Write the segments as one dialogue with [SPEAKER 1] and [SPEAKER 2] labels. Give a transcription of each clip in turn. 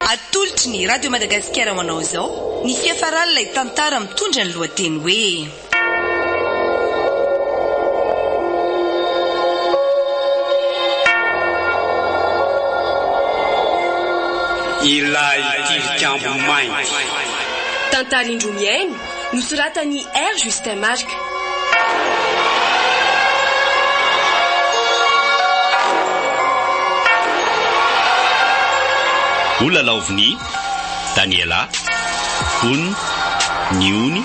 [SPEAKER 1] Atolotry ny Radio Madagasikara ho anao izao ny fiafaran'ilay tantara mitondra ny lohateny hoe.
[SPEAKER 2] Ilay Tilikambo Mainty. Tantara
[SPEAKER 3] indroa mihaino Nosoratan'i R. Justin Marc.
[SPEAKER 4] O lalaovin'i Daniela, Ony, Ny Ony,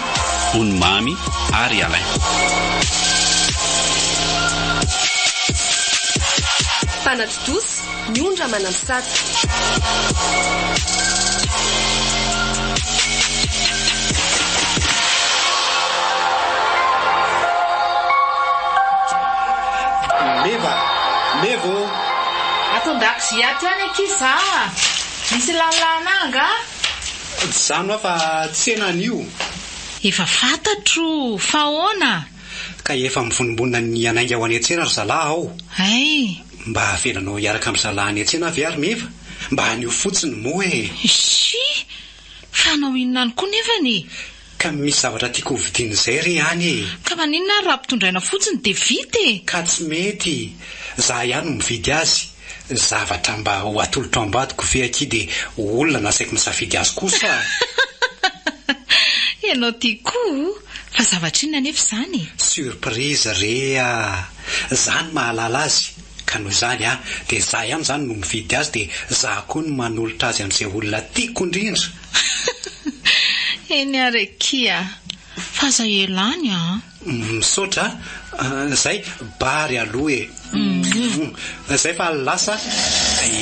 [SPEAKER 4] Ony Mamy ary Alain.
[SPEAKER 3] Mpanatontosa, Ny ondra manampy sata.
[SPEAKER 2] Ato
[SPEAKER 5] an-dakozia ato ihany akia za a! Misy lalilahana ahy angaha?
[SPEAKER 2] Jano aho fa tsena anio. Efa
[SPEAKER 5] fantatro! Fa ahoana? Ka efa
[SPEAKER 2] mivonimbonina ny hanainga ho any an-tsena ry zalahy aho. Hay!
[SPEAKER 5] Mba havelanao
[SPEAKER 2] hiaraka am zalah any an-tsena ve ary meva? Mba anio fotsiny moa e! Isi!
[SPEAKER 5] Fa hanao inona any koa nefany e! Ka misy zavatra
[SPEAKER 2] tiako ho vidina izay re any e! Ka maninona ary raha
[SPEAKER 5] ampitondraina fotsiny dia vita e! Ka tsy mety!
[SPEAKER 2] Za ihany no mividy azy! Zavatra mba ho atolotro ambadiko ve akia dia ho olona nasaiko misafidy azy kosa a!
[SPEAKER 5] Ianao ty koa! Fa zavatra inona anefa izany e! Surprise
[SPEAKER 2] re a! Za no mahalala azy ka noho izany a dia za ihany zany no mividy azy dia za koa no manolotra azy amin'izay olona tiako indrindra.
[SPEAKER 5] Eny ary akia fa zay ela any a. Misaotra
[SPEAKER 2] a. Zay bary aloha e. Zay fa lasa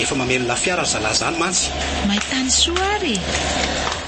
[SPEAKER 2] efa mamely lafiara ry zalahy zany mantsy. Maitanisoa
[SPEAKER 5] ary e.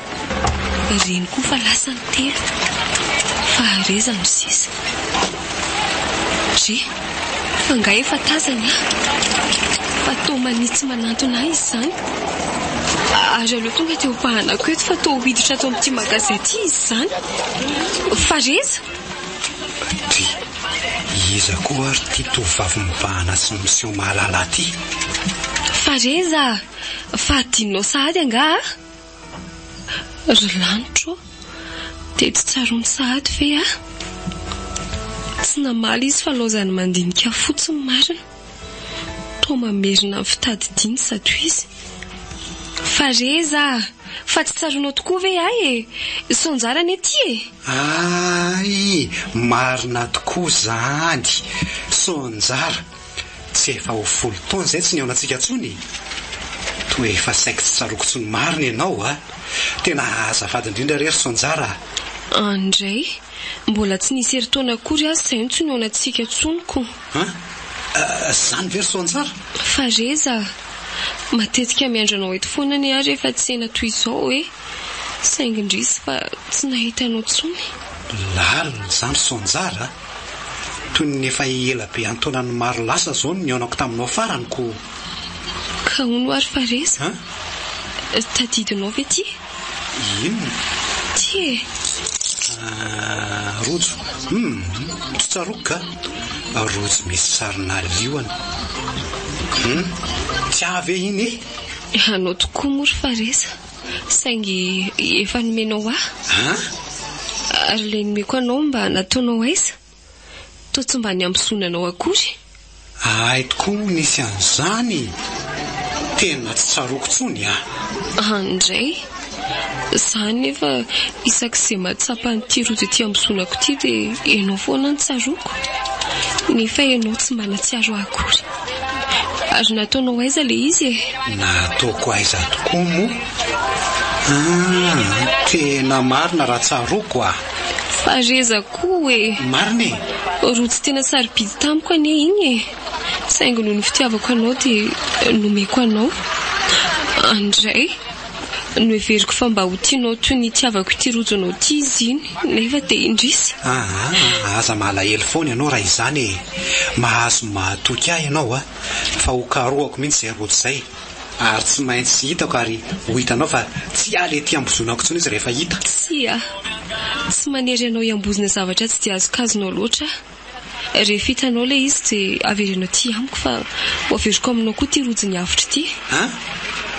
[SPEAKER 3] Ry reny koa fa lasa ny telo. Fahareza no sisa. Re, fa nga efa tazany aho. Fa toa manitsy manantona ahy izany. Ary aleo tonga teo am-pahanako eto fa toa ho hiditra ato amin'ity magazay ity izy izany. Fahareza! Ry,
[SPEAKER 2] iza koa ary ity tovovavy mibahana sy miseho mahalala ity?
[SPEAKER 3] Fahareza! Fa adinonao sahady angaha? Ry lanitra ô, dia tsy tsaroany sahady ve aho? Tsy namaly izy fa laozany mandinika fotsiny marina. Toa mamerina ny fitadidiany zato izy. Fa reza a! Fa tsy tsaroanao tokoa ve ahy e? Sao njara anie ty e? Ay!
[SPEAKER 2] Marina tokoa zany! Sao njara! Tsy efa ho folo taona izay tsy nihaonantsika intsony e! Toa efa saiky tsy tsaroako intsony marina ianao a! Tena azafady indrindra re ry Sonjara a! An indray,
[SPEAKER 3] mbola tsy nisy herintaona akory aza izay no tsy nihaonantsika intsony ko! An?
[SPEAKER 2] Izany ve ry Sonjara? Fa Reza
[SPEAKER 3] a! Matetika miandry anao eto foana anie aho rehefa tsena toy izao e! Saingy indrisy fa tsy nahita anao intsony. Lalina
[SPEAKER 2] izany ry Sonjara a! Toy ny efa ela be an-taonany maro lasa izao no nihaonako taminao farany koa.
[SPEAKER 3] Ka hono ary fa resa? An? Tadidinao ve ity? Inona?
[SPEAKER 2] Ity e!
[SPEAKER 3] Ah,
[SPEAKER 2] rojo. Hum, tsy tsaroako ka. Rojo misy sarinà liona. Hum, tsy ahy ve iny e? Anao tokoa
[SPEAKER 3] moa ry fa resa? Saingy efa nomenao ahy. An? Ary ilay nomeko anao mba nataonao aiza? Toa tsy mba niambozona anao akory. Ahay
[SPEAKER 2] tokoa moa nisy an'izany e! Tena tsy tsaroako intsony an! An indray!
[SPEAKER 3] Za anefa isak'izay mahatsapa an'ity rojo ity ambozonako ity dia ianao foana no tsaroako. Nefa ianao tsy mba nahatsiaro ahy akory. Ary nataonao aiza le izy e? Nataoko
[SPEAKER 2] aiza tokoa moa? Ah, tena marina raha tsaroako ah. Fareza
[SPEAKER 3] koa e. Marina e.
[SPEAKER 2] Roa tsy tena
[SPEAKER 3] sarobidy tamiko anie iny e. Saingy noho ny fitiavako anao dia nomeko anao. Andray. Noheveriko fa mba ho tianao toy ny itiavako ity rojo anao ity izy iny, nefa dia indrisy. Aa, aza
[SPEAKER 2] malahelo foana ianao raha izany e! Mahazo ny mahatoky ahy ianao a! Fa ho karohako mihitsy izay rojo izay, ary tsy maintsy hitako ary ho hitanao fa tsy hiala ety ambozonako intsony izy rehefa hita. Tsia!
[SPEAKER 3] Tsy manery anao hiambozona zavatra tsy dia azokazonao loatra aho. Rehefa hitanao ilay izy dia avereno aty amiko fa ho averiko aminao koa ity rojin'ny avotra ity. An?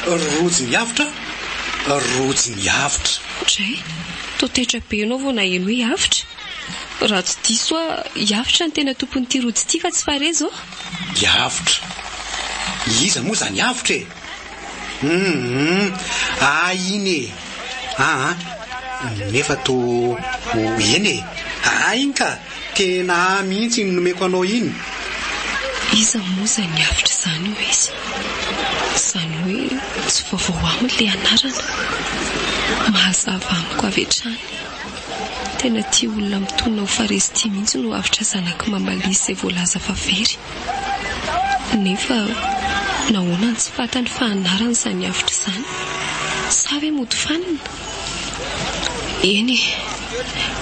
[SPEAKER 2] Rojin'ny avotra? Rojin'ny avotra. Dray,
[SPEAKER 3] toa taitra be ianao vao naheno hoe avotra. Raha tsy diso aho, i Avotra no tena tompon'ity rojo ity fa tsy Farihy izao? I Avotra?
[SPEAKER 2] Iza moa izany Avotra e? Hum, ah iny e. Ah, nefa to eny e. Ah iny ka, tena ah mihitsy iny nomeko anao iny.
[SPEAKER 3] Iza moa izay niavotra izany hoy izy. Izany hoe tsy vaovao aminy ilay anarana. Mahazava amiko avy hatrany. Tena tia olona mitolona ho faristia mihitsy no avotra zanak'i Mama Lisy izay voalaza fa very. Nefa nahoana no tsy fantany fa anarana izany avotra izany? Sa ve mody fanina? Eny e!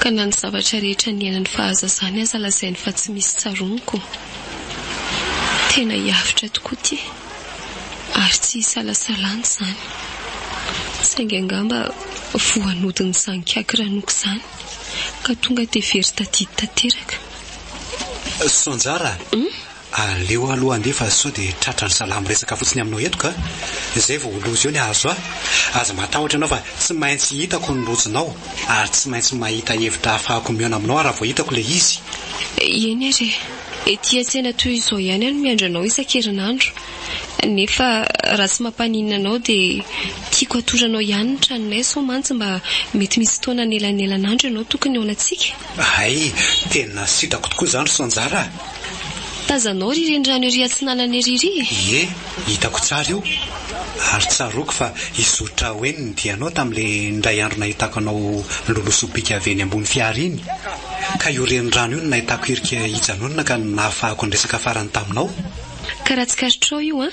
[SPEAKER 3] Ka na ny zavatra rehetra niainany fahazazany aza lazainy fa tsy misy tsaroaniko. Tena hiavotra tokoa ity, ary tsy isalasalana izany. Saingy angamba voanodin'izany kiaky ranoko izany. Ka tonga dia very tadidy tanteraka.
[SPEAKER 2] Soanjara a! Aleo aloha andeha fa sao dia tratra ry zalahy miresaka fotsiny aminao eto ka! Izay vao ho loza eo ny hahazo ahy. Aza matahotra ianao fa tsy maintsy hitako ny lojinao ary tsy maintsy mahita hevitra ahafahako mihaona aminao aho raha vao hitako ilay izy. Eny ary e!
[SPEAKER 3] Ety an-tsena toy izao ihany aho no miandry anao isan-kerinandro. nefa raha tsy mampaninona anao dia tiako hatoranao ihany ny tranonay sao mantsy mba mety misy fotoana anelanelan'andro ianao tokony eo anantsika. Hay,
[SPEAKER 2] tena sitrako tokoa izany ry Sanjara a! Tazanao
[SPEAKER 3] ry renirano ery atsinanana ery ry? Ie, hitako
[SPEAKER 2] tsara io, ary tsaroako fa i Zotra Wayne nidia anao tamin'ilay indray andro nahitako anao niloloha sobika avy eny ambony fiara iny, ka io renirano io no nahitako hirika hijanonana ka nahafahako niresaka farany taminao. Ka raha tsikaritrao
[SPEAKER 3] io an!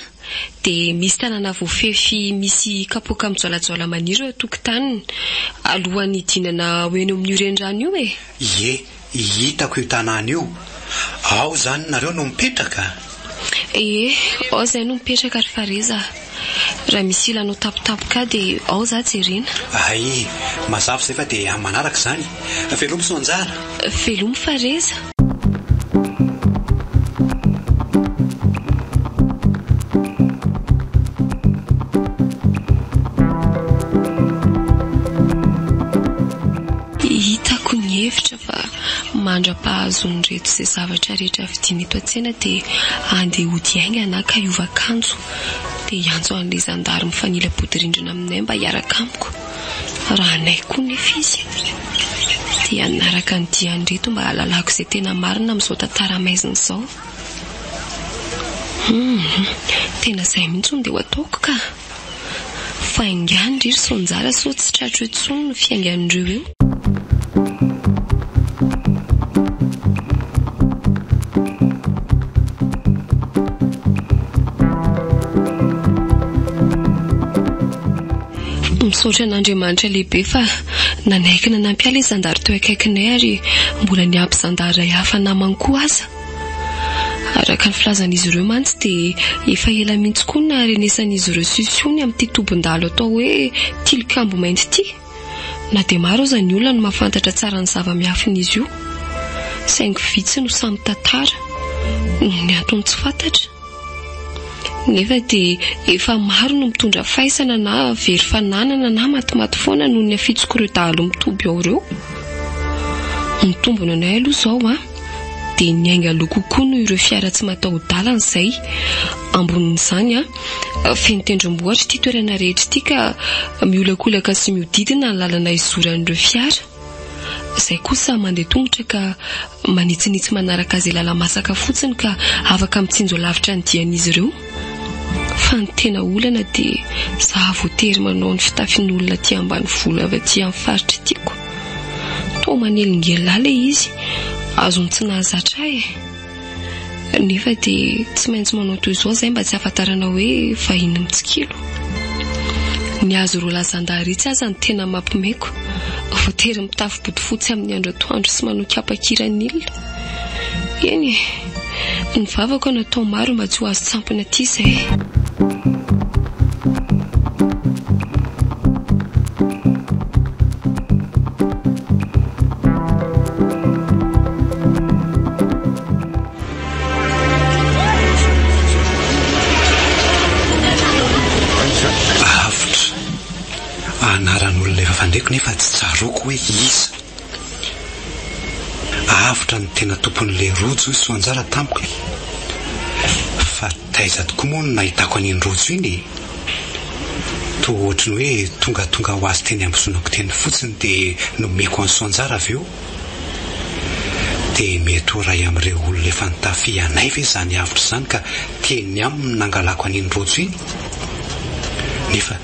[SPEAKER 3] dia misy tanàna voafefy misy kapoaka mijoalajoala maniry eo an-tokotaniny, alohan'ny hidinana ho eny amin'io renirano io e! Ie, hitako
[SPEAKER 2] io tanàna io. Ao izany nareo no mipetraka? Ie,
[SPEAKER 3] ao izay no mipetraka ry Fareza. Raha misy ila anao tapotapo ka dia ao za jerena. Hay,
[SPEAKER 2] mazava izay fa dia amin'ny manaraka izany. Velomy Soanjara. Velomy
[SPEAKER 3] Fareza. Hitako ny hevitra fa mandra-pahazoan'ireto izay zavatra rehetra vidiana eto an-tsena dia andeha hody haingana ka hiova akanjo. dia hiantso an'ilay zandary mifanila-bodirindrina aminay mba hiaraka amiko, raha anay koa nefa izy, dia hanaraka ny dian'ireto mba hahalalako izay tena marina amin'izao tantara maizina izao. Hum, tena izay mihitsy hono dia ho ataoko ka! Fa engahy ndry ry Soanjara sao tsy tratro intsony ny fiaingan'ireo eo. Misaotra an'Andriamanitra lehibe fa nanaiky nanampy ahy ilay zandary teo akaikinay ary mbola niampy zandary iray hafa namany koa aza. Araka ny filazan'izy ireo mantsy dia efa ela mihitsy koa no naharenesan'izy ireo sisihony amin'ity tobin-dalo atao hoe Tilikambo Mainty ity. Na dia maro aza ny olona no mahafantatra tsara ny zava-miafin'izy io, saingy vitsy no sahy mitantara noho ny antony tsy fantatra. Nefa dia efa maro no mitondra faisana na very fananana na matimaty foana noho ny hafitsok'ireo dahalo mitoby ao ireo. Mitombina ny ahy aloha izao an! dia niainga aloha kokoa noho ireo fiara tsy mataho-dalana izay. Ambonin'izany, feno tendrombohitra ity toerana rehetra ity ka miolakolaka sy mihodidina ny lalana izoran'ireo fiara. Izay kosa mandeha tongotra ka manitsinitsy manaraka izay lala-masaka fotsiny ka afaka mitsinjo lavitra ny dian'izy ireo. Fa ny tena olana dia zaho voatery manao ny fitafin'olona aty ambanivolo avy aty amin'ny faritra tiako. Toa manelingelina ilay izy, azony tsy nahazatra ahy e. Nefa dia tsy maintsy manao toy izao izahay mba tsy hahafantarana hoe vahiny mitsikilo. Ny azy roa lahy zandary itsy aza no tena mampimeko, voatery mitafy bodofotsy amin'ny andro atoandro sy manao kapa kiranila. Eny e, ny vavako natao maro mba tsy ho azo tsampina aty izay.
[SPEAKER 2] Avotra. Anaran'olona efa fandriko nefa tsy tsaroako hoe iza. Avotra ny tena tompon'ilay rojo i Soanjara tamiko e! Fa taiza tokoa moa no nahitako an'iny rojo iny e! Toa ohatry ny hoe tongatonga ho azy teny amin'ny zonako teny fotsiny dia nomeko an'i Soanjara avy eo. Dia mety ho iray amin'ireo olona efa nitafia anay ve izany avotra izany ka teny aminy no nangalako an'iny rojo iny? Nefa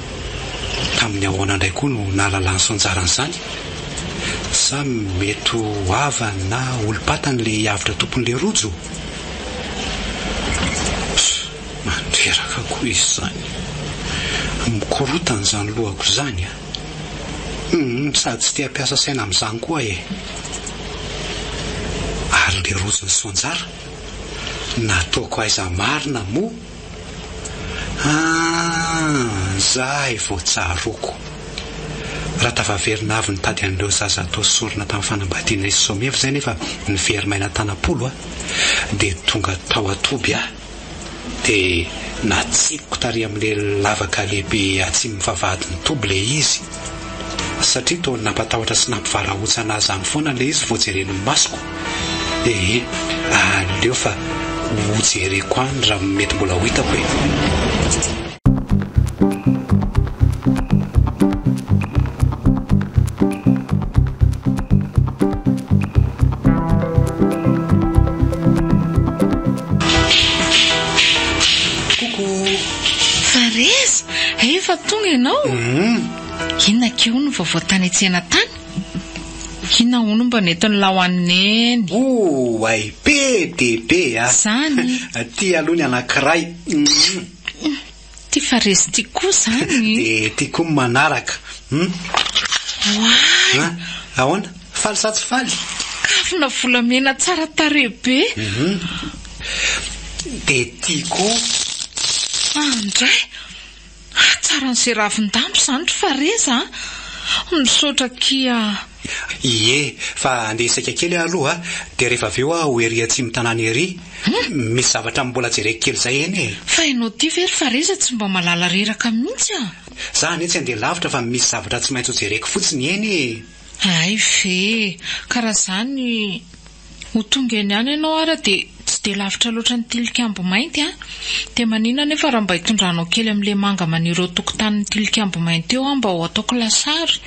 [SPEAKER 2] Tamin'ny ahoana indray koa no nahalalany sy nizarany izany? Sa mety ho havany na olom-patany ilay hiavotra tompon'ilay rojo? Pss! Mandreraka koa izy izany. Mikorotana izany lohako izany a! Humm sady tsy te-hampiasa saina amin'izany koa e! Ary ilay rojony soanjara? Nataoko aiza marina moa? Aa! zahay vao tsaroako. Raha tafaverina avy nitady an'ireo zaza atao sorona tamin'ny fanambadiana izy somevo izay nefa niveri-maina tanam-polo a! dia tonga tao an-toby aho dia natsipiko tary amin'ilay lavaka lehibe atsimon'ny vavahadin'ny toby ilay izy. Satria toa ny nampatahotra sy nampivarahontsana azy any foana ilay izy vao jereny ny masoko. Ee, aleo fa hojereko any raha mety mbola ho hitako e.
[SPEAKER 5] Fareza! Efa tonga ianao? Inona keo ny vaovao tany an-tsena tany? Inona hono mba nentin'Laho an'i Neny? Oay! Be
[SPEAKER 2] dia be a! Izany!
[SPEAKER 5] Ity aloha ny
[SPEAKER 2] anankiray. Ity
[SPEAKER 5] Fareza ity koa izany! Dia ity koa ny
[SPEAKER 2] manaraka. Oay!
[SPEAKER 5] Ahoana?
[SPEAKER 2] Faly sa tsy faly? Kavina
[SPEAKER 5] volamena tsara tarehy be.
[SPEAKER 2] Dia tia koa. An,
[SPEAKER 5] indray! Hatsaran'izay ravin-damba izany ry Fareza an! Misaotra akia an! Ie,
[SPEAKER 2] fa andeha hisaika kely aho aloha dia rehefa avy eo aho ho ery atsimo tanàna ery. Misy zavatra mbola jereko kely izay eny e! Fa ianao ity ve ry
[SPEAKER 5] Fareza tsy mba malala reraka mihitsy an! Za anie tsy andeha
[SPEAKER 2] lavitra fa misy zavatra tsy maintsy ho jereko fotsiny eny e! Hay ve!
[SPEAKER 5] Ka raha izany, ho tonga eny ihany ianao ary dia tsy dia lavitra loatra ny Tilikambo Mainty an! Dia manina anefa raha mba hitondranao kely amin'ilay manga maniry eo an-tokotanin'ny Tilikambo Mainty eo aho mba ho ataoko lasary?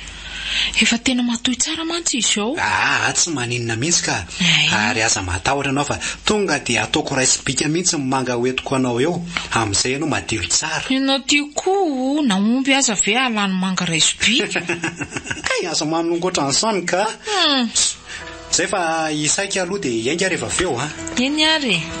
[SPEAKER 5] Efa tena matoy tsara mantsy izy ao. Aa tsy maninona
[SPEAKER 2] mihitsy ka! Ary aza matahotra ianao fa tonga dia ataoko raisim-bika mihitsy ny manga ho entiko anao eo, amin'izay ianao madio tsara. Ianao ty koa
[SPEAKER 5] o, na omby aza ve hahalà ny manga raisim-bika? Kay
[SPEAKER 2] aza manongo ohatran'izany kah! Zay fa isaika aloha dia hiainga ary avy eo an! Eny ary e!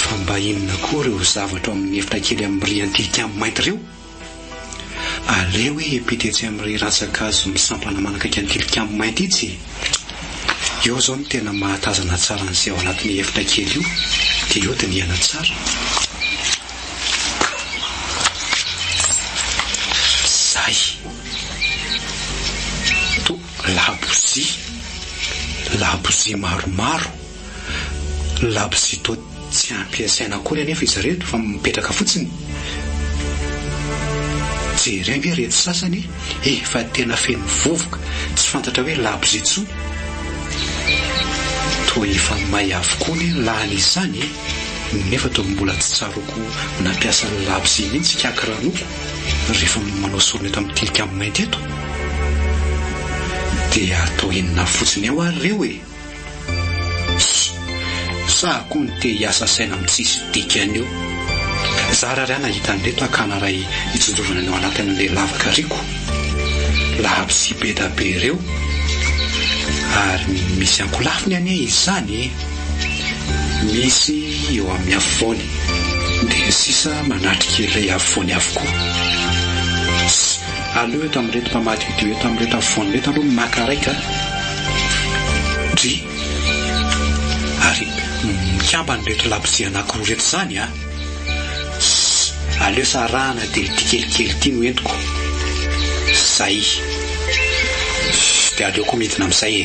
[SPEAKER 2] Fa mba inona koa ireo zavatra ao amin'ny efitra kely amin'ny riz anti kiam mainty ireo? Aleo hoe epita etsy amin'ny riz rantsan-kazo misampana manakaiky an'i tilikambo mainty itsy e! Eo izao no tena mahatazana tsara an'izay ao anatin'io efitra kely io dia eo dinihana tsara. Izay. Toa labozia. Labozia maromaro. Labozia toa tsy ampiasaina akory anefa izy ireto fa mipetraka fotsiny. Jereo ve ireto sasany efa tena feno vovoka tsy fantatra hoe labozia intsony. Toa efa may avokoa ny lany izany nefa toa mbola tsy tsaroako nampiasa ny labozia mihitsy i Kaka Ranoko rehefa manao sorona eto amin'ny Tilikambo Mainty eto. Dia toa enina fotsiny eo ary ireo e! Sa koa ny te hiasa saina amin'ny tsisy dikany eo? Zara ary aho nahita an'ireto akana iray nitsinjovana ny ao anatin'ilay lavaka riako. Labozia be da be ireo ary misy ankolafiny anie izy izany e! Misy eo amin'ny afovoany dia sisa manatrika ilay afovoany avokoa. Aleo eto amin'ireto mpamaky video eto amin'ireto afovoany ireto aloha ny maka raika a! Dry! Ary mikambana ireto labozia anankiroa ireto izany a! Ssss! Aleo sa arahana dia ity kelikely ity no entiko. Zay! Ssss! Dia aleoko midina amin'izay e!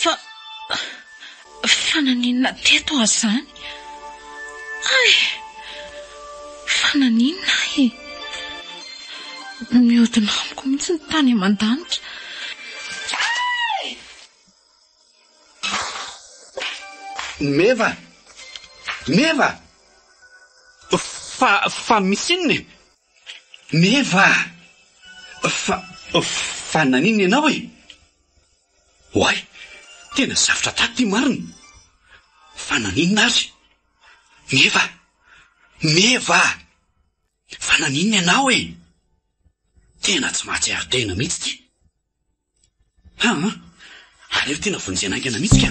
[SPEAKER 5] Fa. Fa naninona teto aho izany? Ay! Fa naninona ahy e? Mihodina amiko mihitsy ny tany aman-danitra. Ay!
[SPEAKER 2] Meva! Meva! Fa, fa misy inona e? Meva! Fa, fa naninona ianao e? Oay! Tena zavtra taty ity marina! Fa naninona ary? Meva! Meva! Fa naninona ianao e? Tena tsy mahatsiaro tena mihitsy ity! Haa! Aleo tena vonjena haingana mihitsy ka!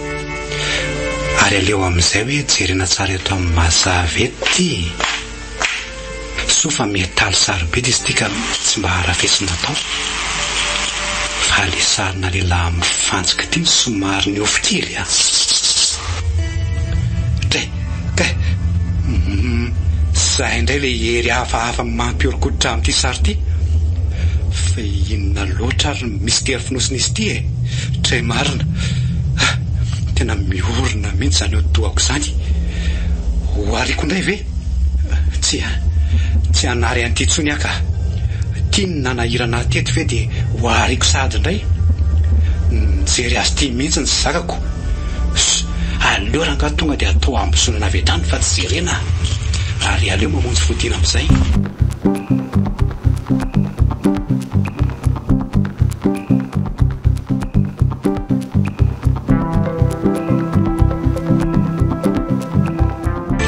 [SPEAKER 2] Ary aleo amin'izay hoe jerena tsara eto amin'ny mazava eto ity e! Soa fa mihataly sarobidy izy ity ka tsy mba harafesina atao. Fa ilay sarina lehilahy mifantsika ity no somary niofo kely an! Kay! Humm! Zay indray ilay hery hafahafa mampihoron-koditra amin'ity sary ity. Fa inona loatra ary no misitery fonosin'izy ity e? Très marina. Ah! Tena miorina mihitsy izany hodi-dohako izany. Ho ariako indray ve? Tsia, tsy hanary an'ity intsony aho ka. Tiany nanahirana ahy teto ve dia ho ariako sahady indray? Nijery azy ity mihitsy ny zakako. Aleo rangaha tonga dia atao hambosonana avy hatrany fa tsy jerena ary aleo mamonjy fodiana amin'izay.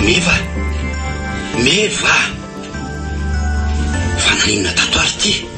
[SPEAKER 2] Meva! Meva! Fa naninona tato ary ity?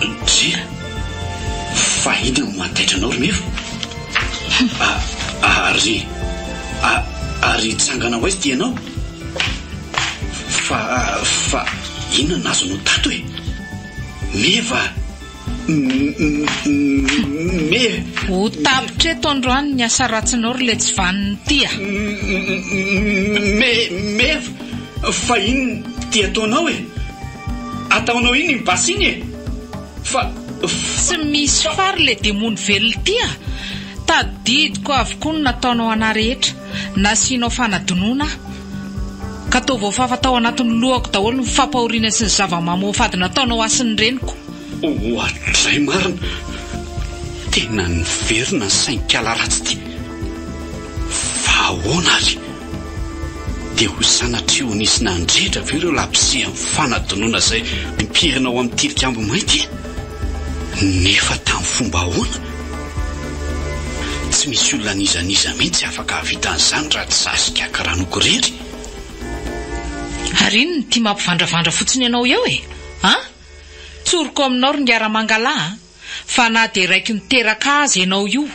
[SPEAKER 5] Ndrii.
[SPEAKER 2] Fa inona no mahataitra anao ry Meva? Hum. Ary. Ary hitsangana ho aiza ity ianao? Fa. Fa inona no azonao tato e? Meva
[SPEAKER 5] a! Me. Ho tapitra eto androany ny asa ratsinao ry Letsivanona ity a! Me.
[SPEAKER 2] Meva. Fa inona ity ataonao e? Ataonao iny ny basy iny e! Fa
[SPEAKER 5] Tsy misy fary le demony velona ity a! Tadidiko avokoa ny nataonao anah rehetra, nasianao fanadinoana aho, ka toa voafafa tao anatin'ny lohako daholo ny fampahoriana sy ny zava-mamoafady nataonao ahy sy ny reniko. Oadray
[SPEAKER 2] marina! Tena niverina ny sainkala ratsy ity! Fa
[SPEAKER 4] ahoana ary? Dia ho sanatria ho nisy nandrehitra ve ireo labozy amin'ny fanadinoana izay mipirina ao amin'ny Tilikambo Mainty? Nefa tamin'ny fomba ahoana? Tsy misy olona n'iza n'iza mihitsy afaka hahavita an'izany raha tsy izaho sy Kiaka Ranoko irery. Ary
[SPEAKER 5] inona ity mampivandravandra fotsiny anao eo e? An! Tsoriko ao aminao ry Ngiaramangalahy a! Fa na dia raiky niteraka azy ianao io,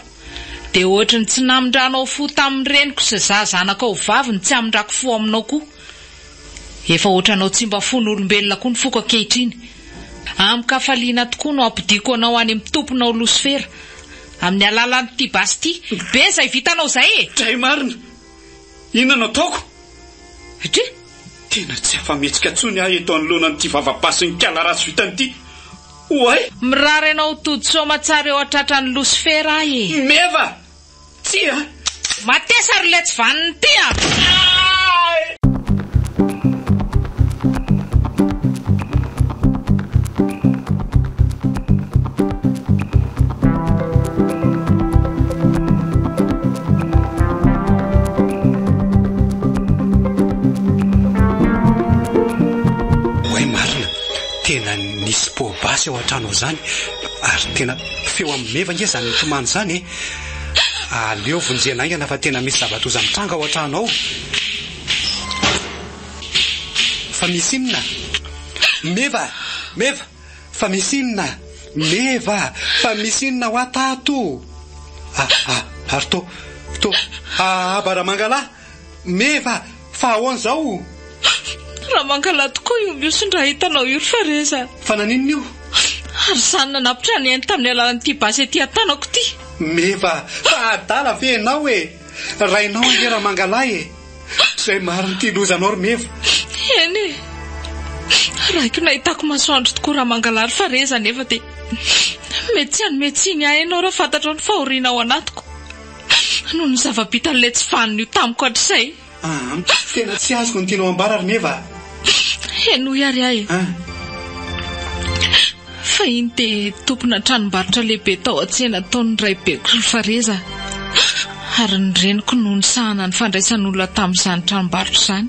[SPEAKER 5] dia ohatry ny tsy namindranao fo tamin'ny reniko sy za zanakao vavy ny tsy hamindrako fo aminao koa. Efa ohatranao tsy mba fon'olombelona koa ny foko ankehitriny. Amin-kafaliana tokoa no hampodiako anao any amin'ny tomponao Losifera, amin'ny alalan'ity basy ity. Be izay vitanao izay e! Dray marina!
[SPEAKER 4] Inona no ataoko? Satria
[SPEAKER 5] tena
[SPEAKER 4] tsy afa-mihetsika intsony aho eto anoloana an'ity vava-basin'ikala ratsy vitany ity. Oay! Mirary anao
[SPEAKER 5] tody soamatsara eo an-tratran'i Losifera aho e! Meva!
[SPEAKER 4] Tsia! Matesa
[SPEAKER 5] ry letsy vaniny ity
[SPEAKER 2] a! Tena nisy pot basy ao an-trano ao zany ary tena feo amin'ny meva nge zany mitomany zany e! Aleo vonjena haingana fa tena misy zava-doza mitranga ao an-trano ao. Fa misy inona? Meva! Meva! Fa misy inona? Meva! Fa misy inona hoa tato? Ah! Ah! Ary to, to, ah! Baramangalahy! Meva, fa ahoana izao o? Raha
[SPEAKER 5] mankalahy tokoa io miosony raha hitanao io ry Fareza. Fa naninona io?
[SPEAKER 2] Ary izany
[SPEAKER 5] nanapitra ny ainy tamin'ny alalan'ity basy ety an-tanako ity. Meva,
[SPEAKER 2] fa adala ve ianao e? Rainao ange Ramangalahy e! Izay marin'ity lozanao ry Meva. Eny e!
[SPEAKER 5] Raiko nahitako masoandro tokoa Ramangalahy ry Fareza nefa dia mety tsy hanome tsiny ahy ianao raha fantatrao ny fahoriana ao anatiko. Noho ny zava-bitan'ilay tsy valin'io tamiko hatrizay. Aam, tena
[SPEAKER 2] tsy azoko ny tianao ambara ry Meva a! Henoy
[SPEAKER 5] ary aho e! An? Fahiny dia tompona tranombarotra lehibe tao an-tsena tao ny raibeko sy ny fareza ary ny reniko no nisahana ny fandraisan'olona tamin'izany tranombarotra izany.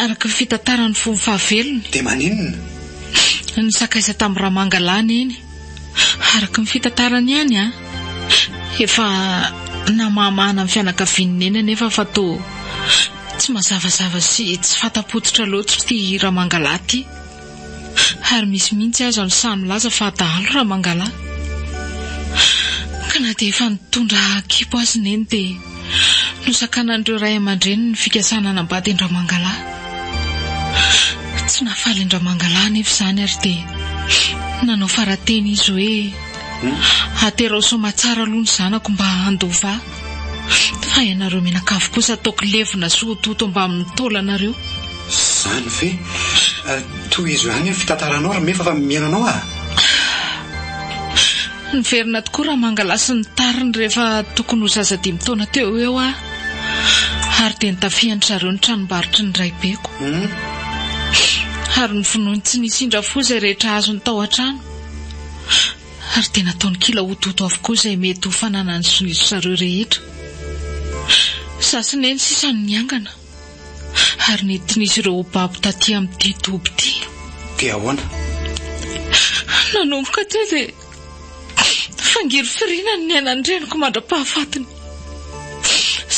[SPEAKER 5] Araka ny fitantaran'ny fony fahavelony. Dia maninona? Nisakaiza tamin'ny ramanga lahy neny. Araka ny fitantarany ihany, efa namahamahana ny fianakavian'i Neny anefa fa toa tsy mazavazava sy tsy fanta-pototra loatra ity Ramangalahy ity. Ary misy mihitsy aza no sahy milaza fa dahalo Ramangalahy. Ka na dia efa nitondra kibo aza i Neny dia. Nosakanan'ireo ray aman-dreny ny fikasana hanambady an-dRamangalahy. Tsy nahafaly an-dRamangalahy anefa izany ary dia nanao fara-teny izy hoe, Aterao soamatsara aloha ny zanako mba handova ahy, fa ianareo mianakavy kosa ataoko levona sy hototo mbamin'ny taolanareo. Izany
[SPEAKER 2] ve? Tohizo ihany ny fitantaranao ry Mefa fa mihaino anao aho.
[SPEAKER 5] Niverina tokoa Ramangalahy sy ny tariny rehefa tokony ho zaza dimy taona teo ho eo aho, ary dia nitafian-dry zareo ny tranombarotry ny raibeko. Ary novonoiny tsy nisy indra fo izay rehetra azony tao an-trano, ary dia nataony kilaototo avokoa izay mety ho fananany sy ny ry zareo rehetra. Izaho sy Neny sisa no niangana. ary nentin'izy ireo ho babo taty amin'ity toby ity. Dia ahoana?
[SPEAKER 2] Nanomboka
[SPEAKER 5] teo dia fangirifiriana ny niainan'ny reniko mandra-pahafatiny,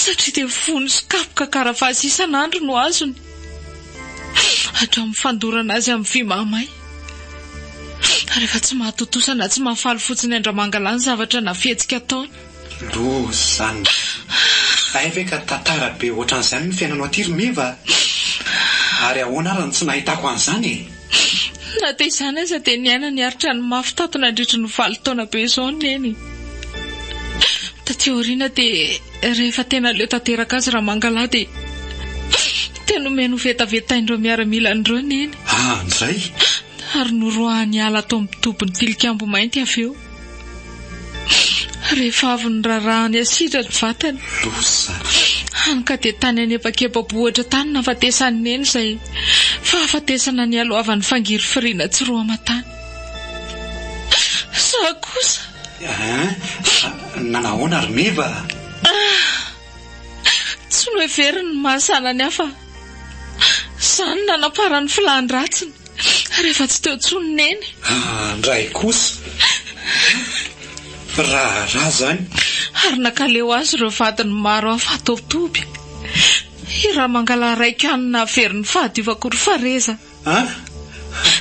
[SPEAKER 5] satria dia vono sy kapoka karavasy isan'andro no azony, hatramin'ny fandorana azy amin'ny vy mahamay. Rehefa tsy mahatontosa na tsy mahafaly fotsiny andramangalahy ny zavatra na fihetsika ataony. Doza
[SPEAKER 2] zany. Hay ve ka tantara be ohatran'izany ny fiainanao aty ry Meva a! Ary ahoana ary no tsy nahitako an'izany e! Na
[SPEAKER 5] dia izany aza dia niaina ny ari-trano mafy tato nandritry ny valo taona be izao ny neny. Taty aoriana dia rehefa tena leo tanteraka azy Ramangalahy dia dia nomeny ho vetavetain'ireo miaramilany ireo neny. Andray?
[SPEAKER 2] Ary
[SPEAKER 5] noroahany hiala ato amin'ny tobin'ny tilikambo mainty avy eo. Rehefa avy niraraha ny asidra ny vatany. Hany ka dia tany anebakeba-bohitra tany nahafatesan'i Neny izay fahafatesana nialohavan'ny fangirifiriana tsy roa aman-tany. Izaho
[SPEAKER 2] kosa. Nanao ahoana ry Meva?
[SPEAKER 5] Tsy noheveriny ny mahazana ny hafa. Izany no nanaparan'ny filàn-dratsiny, rehefa tsy teo intsony Neny. Andray
[SPEAKER 2] kosa. Raharaha izany. Ary nankaleo
[SPEAKER 5] azy ireo vadiny maro hafa hatao toby. I Ramangala raiko ihany no nahaverin'ny fahadiovako ry Fareza. An?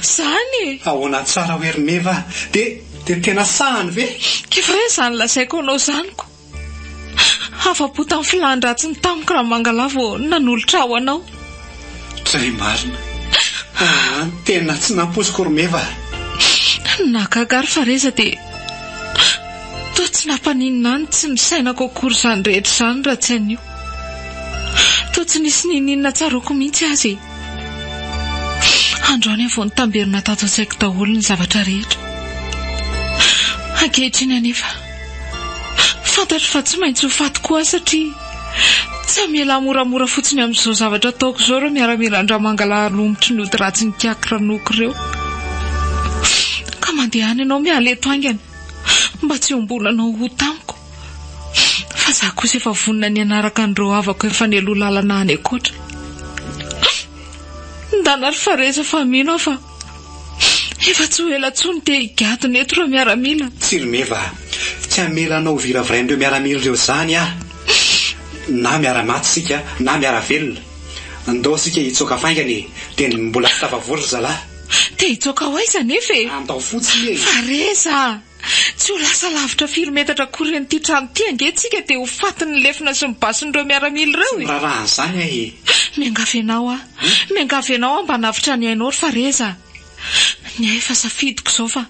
[SPEAKER 5] Izany e! Ahoana tsara hoe ry
[SPEAKER 2] Meva? Dia tena sahany ve? Kivy re izany
[SPEAKER 5] lazaiko anao izany ko! Afa-po tamin'ny filàn-dratsiny tamiko Ramangalà vao nanolotra ahy ho anao. Zay
[SPEAKER 2] marina. Aa tena tsy nampoiziko ry Meva a!
[SPEAKER 5] Nahagaga ary fa reza dia toa tsy nampaninona ahy ny tsy nisainako akory izany rehetra izany raha tsy an'io. Toa tsy nisy niniana tsaroako mihitsy aza e. Androany aho vao nitamberina tato an-tsaiko daholo ny zavatra rehetra. Ankehitriny anefa. Fantatro fa tsy maintsy ho faty koa aho satria tsy hamela moramora fotsiny amin'izao zavatra ataoko izao ireo miaramilan-dramangalaha romotry ny ody ratsin'ny kiaky ranoko ireo. Ka mandehana ianao miala eto haingana mba tsy hiombonanao ho tamiko fa izaho kosa efa vonona ny hanaraka an'ireo havako efa nialoha lalana any ankoatra. Ndana ry Fareza fa mino aho fa Efa tsy ho ela tsony dia higadona eto ireo miaramila. Tsirimeva
[SPEAKER 2] a! Tsy hamela anao ho viravirain'ireo miaramila ireo izany aho! Na miara-maty isika na miara-velona. Ndao isika hitsoaka faingana e! Dia mbola tsy tafavory ry zalahy. Te hitsoaka ho
[SPEAKER 5] aiza anefa e! Andao fotsiny e!
[SPEAKER 2] Fa re za!
[SPEAKER 5] Tsy ho lasa lavitra firy metatra akory an'ity trano ity ange tsika dia ho fatin'ny lefona sy ny basin'ireo miaramila ireo e! Tsy miraraha an'izany aho e!
[SPEAKER 2] Miangavy anao aho,
[SPEAKER 5] miangavy anao aho mba hanavotra ny ainao ry Fareza a! Ny ahy efa safidiko izao fa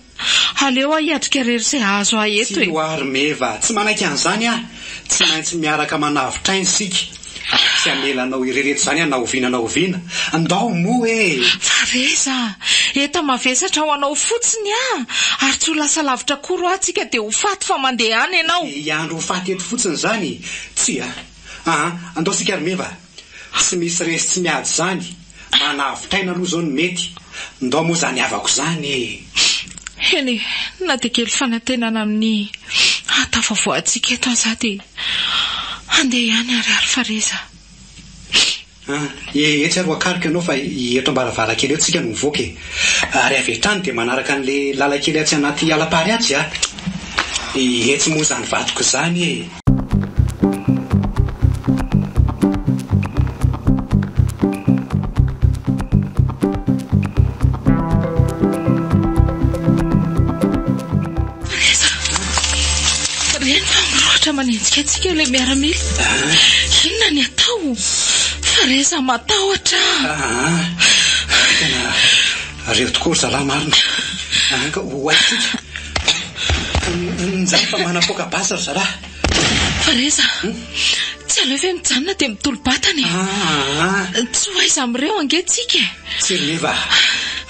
[SPEAKER 5] aleo aho hiatrika irery izay hahazo ahy eto e! Tsia ho'a ry Meva,
[SPEAKER 2] tsy manaiky an'izany aho! Tsy maintsy miaraka manavotra aina isika! Ary tsy hamela anao irery eto izany aho na oviana na oviana. Ndao moa e! Fareza!
[SPEAKER 5] Eta mavesatra ho anao fotsiny aho, ary tsy ho lasa lavitra akory hoa tsika dia ho faty fa mandeha any ianao. Dia hiandry ho faty eto
[SPEAKER 2] fotsiny izany? Tsia. Aa! Ndao tsika ry meva. Tsy misy resy tsy miady izany. Manavotr'aina aloha izao ny mety. Ndao moa izany havako izany eh! Eny e,
[SPEAKER 5] na dia kely fanantenana amin'ny hahatafavoahantsika eto aza aho dia handeha ihany ary ary fa reza.
[SPEAKER 2] Ah, eh, etsy ary ho akaliko ianao fa eto am-baravarankely eo tsika no mivoaka e! Ary avy hatrany dia manaraka an'ilay lalan-kely atsy anaty ala-pariatsy aho. Etsy moa izany vadiko izany eh!
[SPEAKER 5] manenjika antsika ilay miaramila. Ah. Inona ny atao? Fareza matahotra.
[SPEAKER 2] Ah. Ariho tokoa ry zalahy marina an ka ho haintsika Njay fa manapoaka basy ry zalahy Fareza
[SPEAKER 5] Tsy aleo ve mijanona dia mitolo-batana e ah, Tsy ho aiza amin'ireo ange tsika e Tsiriniva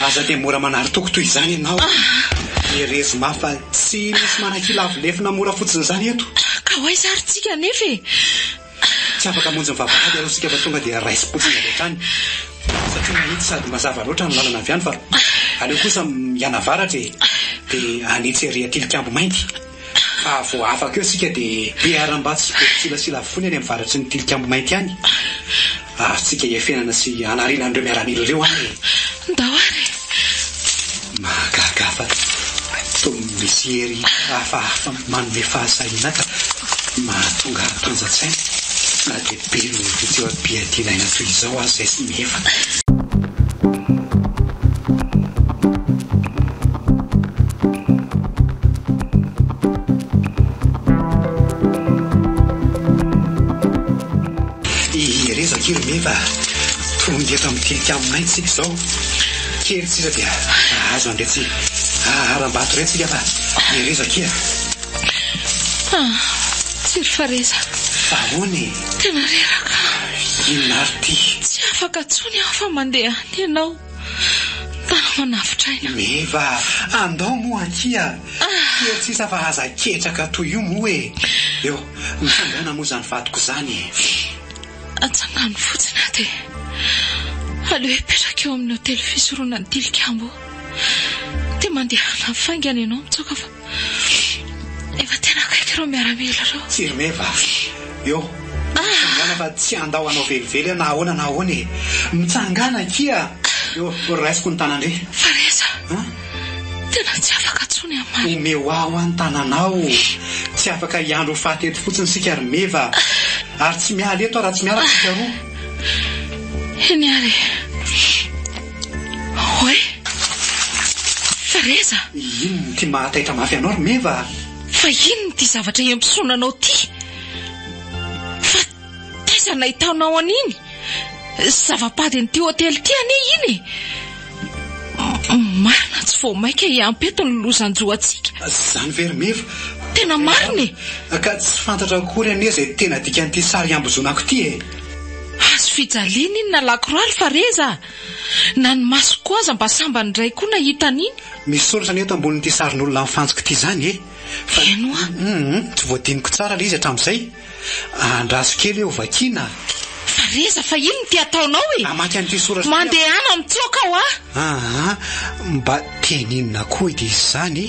[SPEAKER 2] Aza dia mora manary toko toy izany ianao Herezo mafy fa tsy misy manakilavo lefona mora fotsiny izany eto Ka ho aiza ary
[SPEAKER 5] tsika anefa e?
[SPEAKER 2] Tsy afaka hamonjy ny vavahady aloha isika fa tonga dia raisim-potsiny avy hatrany satria mahitsy sady mazava loatra ny lalana avy any fa aleo kosa mianavaratra e! dia hanitsy ery an-tilikambo mainty fa vao afaka eo isika dia. Mpiharam-bato sy be mpisilasila avokoa ny any amin'ny varatry ny tilikambo mainty any. Aharontsika hiafenana sy hanariana an'ireo miaramila ireo ary e! Ndao ary e!
[SPEAKER 5] Mahagaga
[SPEAKER 2] fa toa misy hery hafahafa manome fahasahiana ka mahatonga ahy mitanja-tsaina na dia be noho ny fitsoa-piadiana aina toy izao aza izay samy efa. Iherezako io anie fa tonga eto amin'ny tilikambo isika izao. Kely sisa dia hahazo an'iretsy haharam-bato iretsy isika fa iherezako kia. Ah,
[SPEAKER 5] tsy ry Fareza. Fa ahoana e?
[SPEAKER 2] Tena reraka.
[SPEAKER 5] Inona ary
[SPEAKER 2] ity? Tsy afaka intsony
[SPEAKER 5] aho fa mandeha any ianao. Mpanao manavotr'aina. Meva,
[SPEAKER 2] andao moa akia. Kely sisa fa aza ketraka toy io moa e. Eo, mitsangàna moa izany vadiko izany e.
[SPEAKER 5] Atsangano fotsiny aho dia aleo hipetraka eo amin'ny hotely fisoroana ny tilikambo eo. Dia mandehana faingana ianao mitsoaka fa. Efa
[SPEAKER 2] tena
[SPEAKER 5] akaiky ireo
[SPEAKER 2] miaramila
[SPEAKER 5] ireo. Tsy reva. Eo. Mitsangàna
[SPEAKER 2] fa tsy handao anao velively aho na ahoana na ahoana e. Mitsangàna akia. Eo, raisiko ny tanandry. Fa re za.
[SPEAKER 5] An? Tena tsy afaka intsony aho maro. Omeo ahy hoa ny
[SPEAKER 2] tananao. Tsy afaka hiandry ho faty eto fotsiny isika ry meva. Ary tsy miala eto aho raha tsy miaraka isika roa.
[SPEAKER 5] Eny ary e. Oe! Freza! Inona ity mahataitra
[SPEAKER 2] mafy anao ry Meva a! Fa inona
[SPEAKER 5] ity zavatra iambosona anao ity? Fa taiza nahitanao an'iny? Zava-pady an'ity hotely ity anie iny e! Marina tsy vao maika hiampy eto ny lozan-jo antsika. Izany ve ry Meva?
[SPEAKER 2] Tena marina
[SPEAKER 5] e! Ka tsy fantatra
[SPEAKER 2] akory anie izay tena dikan'ity sary iambozonako ity e! Hazo
[SPEAKER 5] fijaliana iny na lakroaly fa re za! Na ny masoko koa aza mba sambany indray koa nahita an'iny! Misy soratra anie eto
[SPEAKER 2] ambonin'ity sarin'olona mifantsika ity izany e! Fa Heno a!
[SPEAKER 5] Humm! Tsy voadiniko
[SPEAKER 2] tsara ilay izy hatramin'izay! Andraso kely eo vakiana a! Fa re za
[SPEAKER 5] fa inona ity ataonao e! Hamaky an'ity soratra ity aho!
[SPEAKER 2] Mandehana mitsoaka
[SPEAKER 5] hoa! Aa! Mba
[SPEAKER 2] teny inona koa edy izy izany e!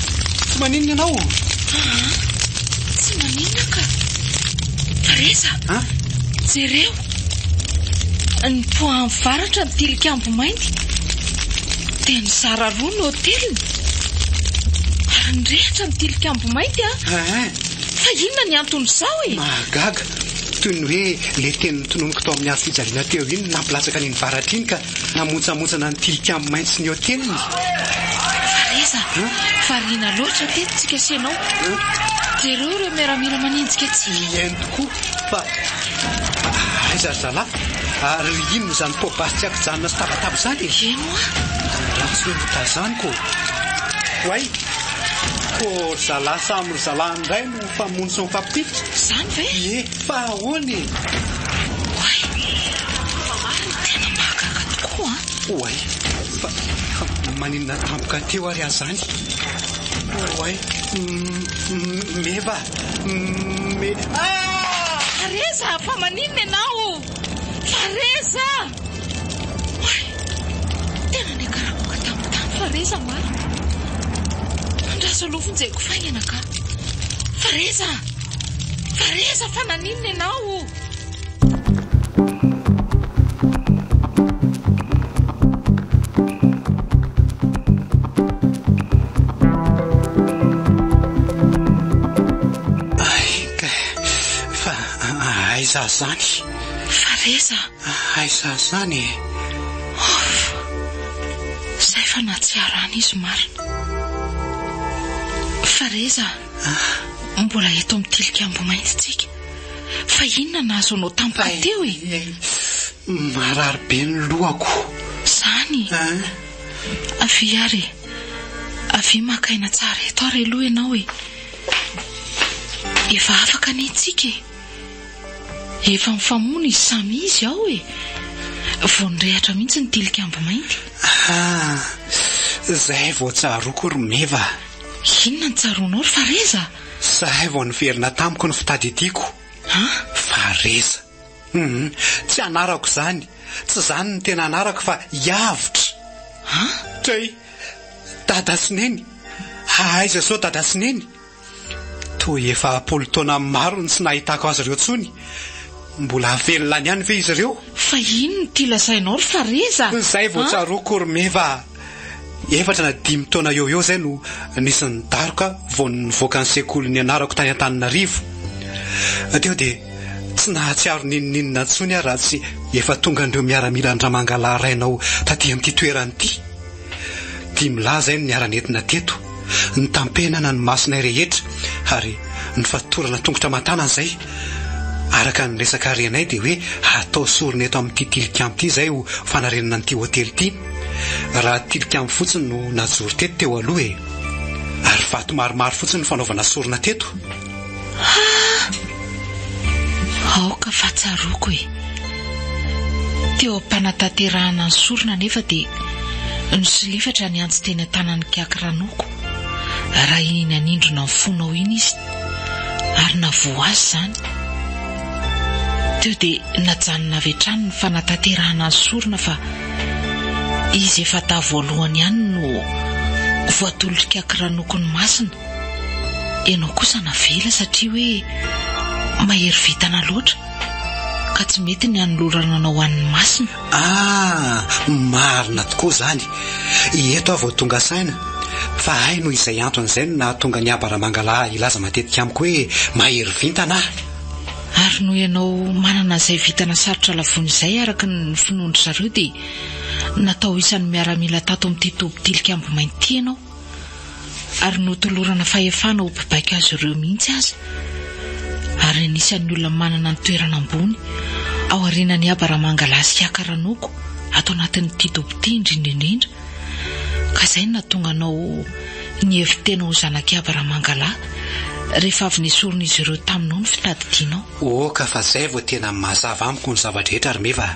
[SPEAKER 2] Tsy maninona ianao? Aa,
[SPEAKER 5] tsy maninona ka. Teresa, An? jereo. Nipoahan'ny varatra ny tilikambo mainty. Dia nizara roa ny hoteliny. Ary nirehitra ny tilikambo mainty an. Aa, Fa inona ny anton'izao e? mahagaga.
[SPEAKER 2] Toy ny hoe ilay teny notononiko tao amin'ny hazo fijaliana teo iny no nampilatsaka an'iny varatra iny ka Namontsamontsana ny tilikambo maitso ny hoteliny.
[SPEAKER 5] Fariza, variana loatra ve tsy kasenao? Jereo ireo miaramila manenjika antsika. Tsy mihaino tokoa
[SPEAKER 2] fa aiza ry zalahy? Ary inona izany pot basy tsy ankijanona sy tabataba izany e? Eny hoa.
[SPEAKER 5] Angaha tsy hoe
[SPEAKER 2] notazaniko. Oay! Koa ry zalahy samy ry zalahy indray no. Mpamono sy mpampitodika? Izany ve? Ie,
[SPEAKER 5] fa ahoana
[SPEAKER 2] e? Oay! Fa marina
[SPEAKER 5] e! Tena mahagaga tokoa an! Oay!
[SPEAKER 2] Fa, fa maninona tampoka teo ary aza any? Oay! Mme Meva! Mme.
[SPEAKER 5] Ah! Fa reza! Fa maninona ianao? Fa reza! Hay! Tena niakaraboka tamin'ny tany fa re za maro. Andraso aloha vonjeko faingana ka. Fa re za! Fa re za fa naninona ianao o!
[SPEAKER 2] Aiza izany? Fa re za!
[SPEAKER 5] Aiza
[SPEAKER 2] zany e? Off!
[SPEAKER 5] Zay fa nahatsiarana izy marina. Fareza a! Mbola eto amin'ny tilikambo mainty tsika. Fa inona nahazo anao tampoka teo e? Marary
[SPEAKER 2] be ny lohako. Zany?
[SPEAKER 5] Avia ary e! Avia maka aina tsara eto ary aloha ianao e! Efa afaka anie tsika e! Efa mifamono izy samy izy ao e! Vao nirehatra mihitsy ny tilikambo mainty. Ah!
[SPEAKER 2] Zay vao tsaroako ry Meva a! Inona
[SPEAKER 5] no tsaroanao ry Fareza a? Zay vao
[SPEAKER 2] niverina tamiko ny fitadidiako. An? Fareza. Hum, tsy anarako izany, tsy izany ny tena anarako fa i Avotra. An? Kay! Dada sy Neny? Aiza sao Dada sy Neny? Toa efa am-polo taona maro no tsy nahitako azy ireo intsony. Mbola velona any ihany ve izy ireo? Fa inona ity
[SPEAKER 5] lazainao ry Fareza a? Izay vao tsaroako
[SPEAKER 2] ry Meva a! Efatra na dimy taona eo ho eo izay no nisy ny daroka vao nivoaka ny sekoly nianarako tany Antananarivo. Teo dia tsy nahatsiaro n'inon'inona intsony aho raha tsy efa tongan'ireo miaramila an-dRamangalahy rainao taty amin'ity toerana ity. Tia milaza ahy ny niara-nentina teto, nitampenana ny masonay rehetra ary nifatorana tongotra aman-tanana izay. Araka ny resaka ary anay dia hoe hatao sorona eto amin'ity tilikambo ity izay ho fanarenana an'ity hotely ity. Raha tilikambo fotsiny no najoro teto teo aloha e. Ary vato maromaro fotsiny no fanaovana sorona teto.
[SPEAKER 5] Aoka fa tsaroako e. Teo am-panatanterahana ny sorona anefa dia nisolifatra ny antsy teny an-tanan'i Kiaky Ranoko raha iny nanindrona ny fonao iny izy ary navoa azy izany. Teo dia najanona avy hatrany ny fanatanterahana ny sorona fa izy efa taha voalohany ihany no voatolotry Kiaky Ranoko ny masina. Ianao kosa navela satria hoe mahery vintana loatra ka tsy mety ny hanolorana anao ho an'ny masina. Ah, marina
[SPEAKER 2] tokoa izany. Eto aho vao tonga saina fa hay noho izay antony izay no nahatonga ny haba Ramangalaha hilaza matetika amiko hoe mahery vintana aho. Ary
[SPEAKER 5] noho ianao manana izay vintana sarotra lavoina izay araka ny finoan-dry zareo dia natao isan'ny miaramila tato amin'ity toby tilikambo mainty ity ianao. ary notolorana fahefana ho mpibaiko azy ireo mihitsy aza, ary anisan'ny olona manana ny toerana ambony ao aorianan'i Aba Ramangalahy sy Hiaka Ranoko ato anatin'ity dobo ity indrindra indrindra, ka izay no nahatonga anao nihevi-tena ho zanak'i Aba Ramangalahy rehefa avy nesorin'izy ireo taminao ny fitadidianao. Oka fa izay vao
[SPEAKER 2] tena mazava amiko ny zava-drehetra ry Meva a!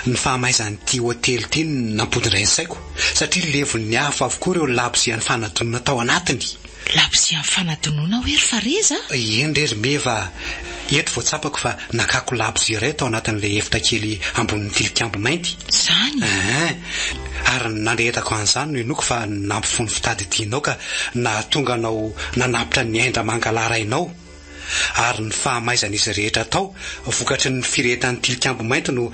[SPEAKER 2] Ny fahamaizan'ity hotely ity no nampodindray ny saiko satria levon'ny afo avokoa ireo labozia nifanadonana tao anatiny. Labozia
[SPEAKER 5] nifanadonona hoe ry Fareza a! Eny re ry Meva
[SPEAKER 2] a! Eto vao tsapako fa nakako labozia iray tao anatin'ilay efitra kely ambonin'ny tilikambo mainty. Izany? Aa! Ary ny nandrehetako an'izany no inoako fa nampifono fitadidianao ka nahatonga anao nanapitra ny ain-dRamangalahy rainao. ary ny fahamaizan'izy rehetra tao vokatry ny firehetan'ny Tilikambo Mainty no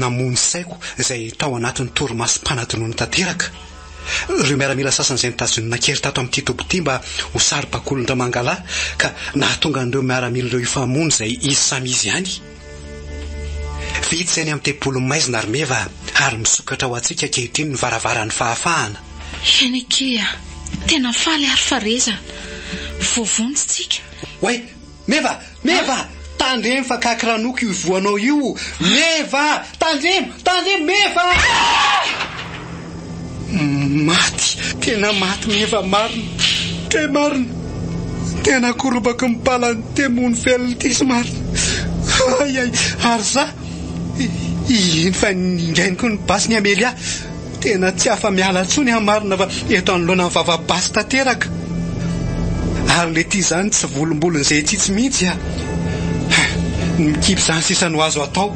[SPEAKER 2] namono saiko izay tao anatin'ny torimaso mpanadinoana tanteraka ireo miaramila sasany izay notazon'ny Nankery tato amin'ity toby ity mba ho saribakolin'Ramangalahy ka nahatonga an'ireo miaramila ireo hifamono izay izy samy izy ihany Vitsy eny amin'ny tempolin'i maizina ry meva ary misokatra ho antsika ankehitriny ny varavaran'ny fahafahana. Heneke
[SPEAKER 5] a! Tena faly ary fa reza! Voavonjy tsika! Oay!
[SPEAKER 2] Meva! Meva! Tandremo fa kaky ranoko io ivohanao io! Meva! Tandremo! Tandremo! Meva! Maty! Tena maty meva marina! Très marina! Tena korobaky ny palan'ny temo ny velona ity sy marina! Ay ay! Ary za iny fa ningainiko ny basy ny Amelia! Tena tsy afa miala tsony an marina fa eto anoloana ny vava basy tanteraka! Ary le ty zany tsy volombolon'izay tsitsy mihitsy an! Mikipy zany sisa no azo atao!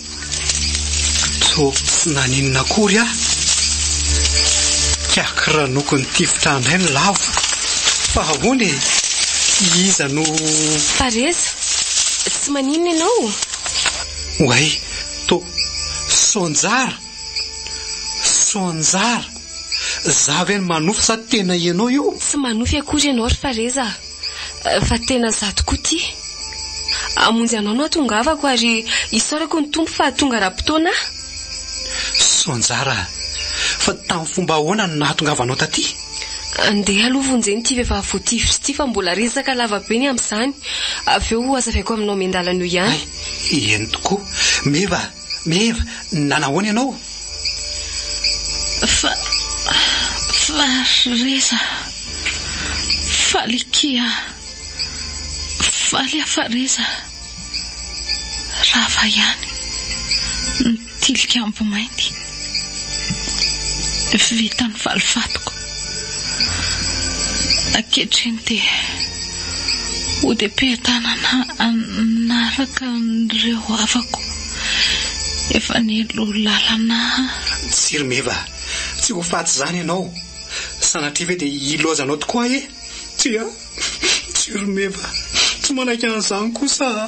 [SPEAKER 2] Toa tsy naninona akory aho. Kiaky ranoko nitifitra indray ny lavo. Fa ahoana e? Iza no. Fa Reza,
[SPEAKER 3] tsy maninona ianao? Oay,
[SPEAKER 2] to, Soanjara! Soanjara! Za ve no manofy sa tena ianao io? Tsy manofy akory ianao
[SPEAKER 3] ry Fa Reza a! Fa tena za tokoa ity. Hamonjy anao no atongavako ary isaorako ny Tompo fa tonga ara-potoana aho.
[SPEAKER 2] Soa anjara. Fa tamin'ny fomba ahoana no nahatongavanao taty? Andeha
[SPEAKER 3] aloha vonjeno ity vehivavy voatifitra ity fa mbola resaka lava be ny amin'izany. Avy eo ho hazavaiko aminao miandalana eo ihany. Hay, eny tokoa.
[SPEAKER 2] Meva! Mère, nanahoana ianao? Fa,
[SPEAKER 5] fa ry reza, faly akia ah, faly ah fa reza, rava ihany ny tilikambo mainty. Vita ny valifatiko. Ankehitriny dia hodiam-piadanana hanaraka an'ireo havako efa nilo lalana. Tsy ry meva
[SPEAKER 2] a! Tsy ho faty izany ianao! Sanatria ve dia hilaozanao tokoa ahy e? Tsia! Jiromeva, tsy manaiky an'izany kosa aho.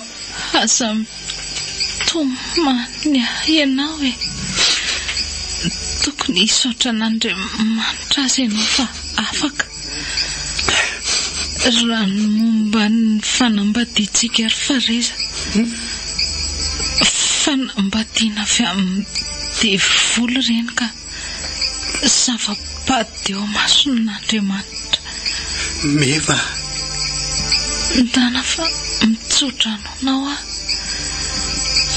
[SPEAKER 2] Aza
[SPEAKER 5] mitomany ianao e! Tokony hisaotra an'Andriamanitra aza ianao fa afaka. Raha ny momba ny fanambadiantsika ry Fareza, fanambadiana avy amin'ny devoly ireny ka. Zava-bady eo imason'Andriamanitra.
[SPEAKER 2] Meva.
[SPEAKER 5] Ndana fa mitsodrano anao aho.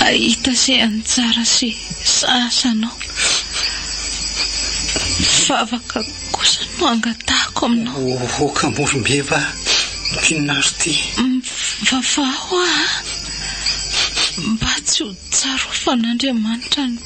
[SPEAKER 5] Ahita ze anjara sy sazy anao. Vavaka kosa no angatahako aminao. Ohoka moa ry Meva
[SPEAKER 2] mpinona ry ty. Mivavaha
[SPEAKER 5] ho aho a. Mba tsy ho tsarofan'Andriamanitra ny.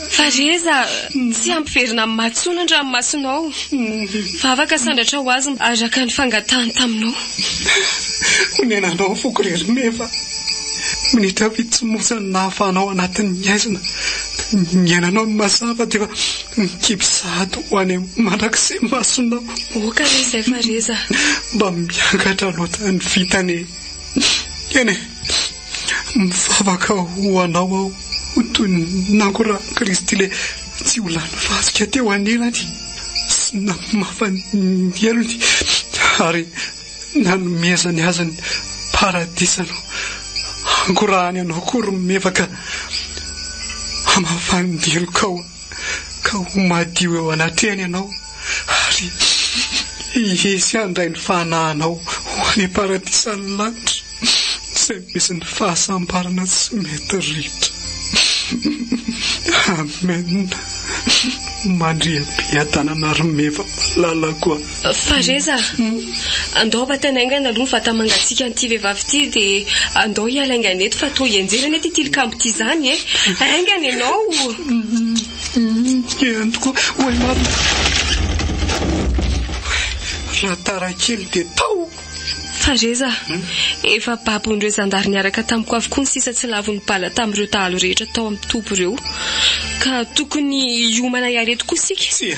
[SPEAKER 3] Fa ry Eza, tsy hampiverina amin'ny maha tsoa ny an-dranomasonao aho. Vavaka sandratra ho azy araka ny fangatahany taminao.
[SPEAKER 2] Honenanao foko ry Rimeva. Minitra vitsy monja no nahafahanao anatin'ny haizina niainanao ny mazava dia efa mikipy sahady ho any amin'ny mandrakizay masonao. Ok anie izay
[SPEAKER 3] fa ry Eza. Mba
[SPEAKER 2] miangatra loatra ny vintana e. Eny e. Mivavaka ho anao aho ho toy ny nangorahan'i Kristy ilay tsy ho lany fasika teo anilany sy namafany ny helony ary nanomezany azy ny paradisa no hangorahany anao koa ry mevaka hamafany ny helokao. ka ho madio eo anatrehany ianao, ary hihehy handray ny fanahinao ho any paradisan'ny lanitra izay misy ny fahasambarana tsy mety ritra. Amen! Mandria be adananareo meva malalako a! Fa Reza
[SPEAKER 3] a! Andao batany haingana aloha ny vata-mangatsiakan'ity vehivavy ity dia andao hiala haingana eto fa toa hianjera anie ity tilikambo ity izany e! Haingana ianao! Dia
[SPEAKER 2] antoko ho ahy marina. Raha tara kely dia tao! Fa Reza
[SPEAKER 3] a! Efa babon'ireo zandary niaraka tamiko avokoa ny sisa tsy lavon'ny bala tamin'ireo dahalo rehetra tao amin'ny toby ireo. Ka tokony hiomana hiala eto koa isika. Tsia!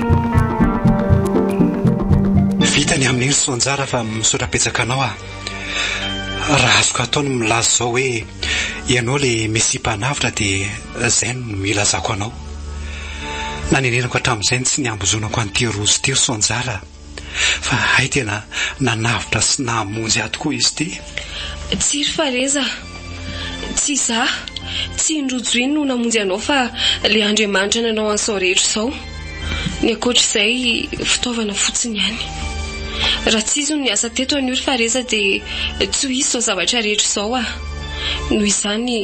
[SPEAKER 2] Vita ny amin'iny Soanjara fa misaotra betsaka anao a! Raha azoko atao ny milaza izao hoe ianao ilay Mesia Mpanavotra dia izay no ilazako anao. Nanenenako hatramin'izay ny tsy niambozonako an'ity rojo ity ry Soanjara a! Fa hay tena nanavotra sy nahamonjy ahy tokoa izy ity. Tsiry
[SPEAKER 3] fa re za. Tsy izaho, tsy i Ndrojoy no namonjy anao fa ilay Andriamanitra nanao an'izao rehetra izao. Ny ankoatr'izay, fitaovana fotsiny ihany. Raha tsy izy no niasa teto anio ry Fareza dia tsy ho hisy izao zavatra rehetra izao ah. Noho izany,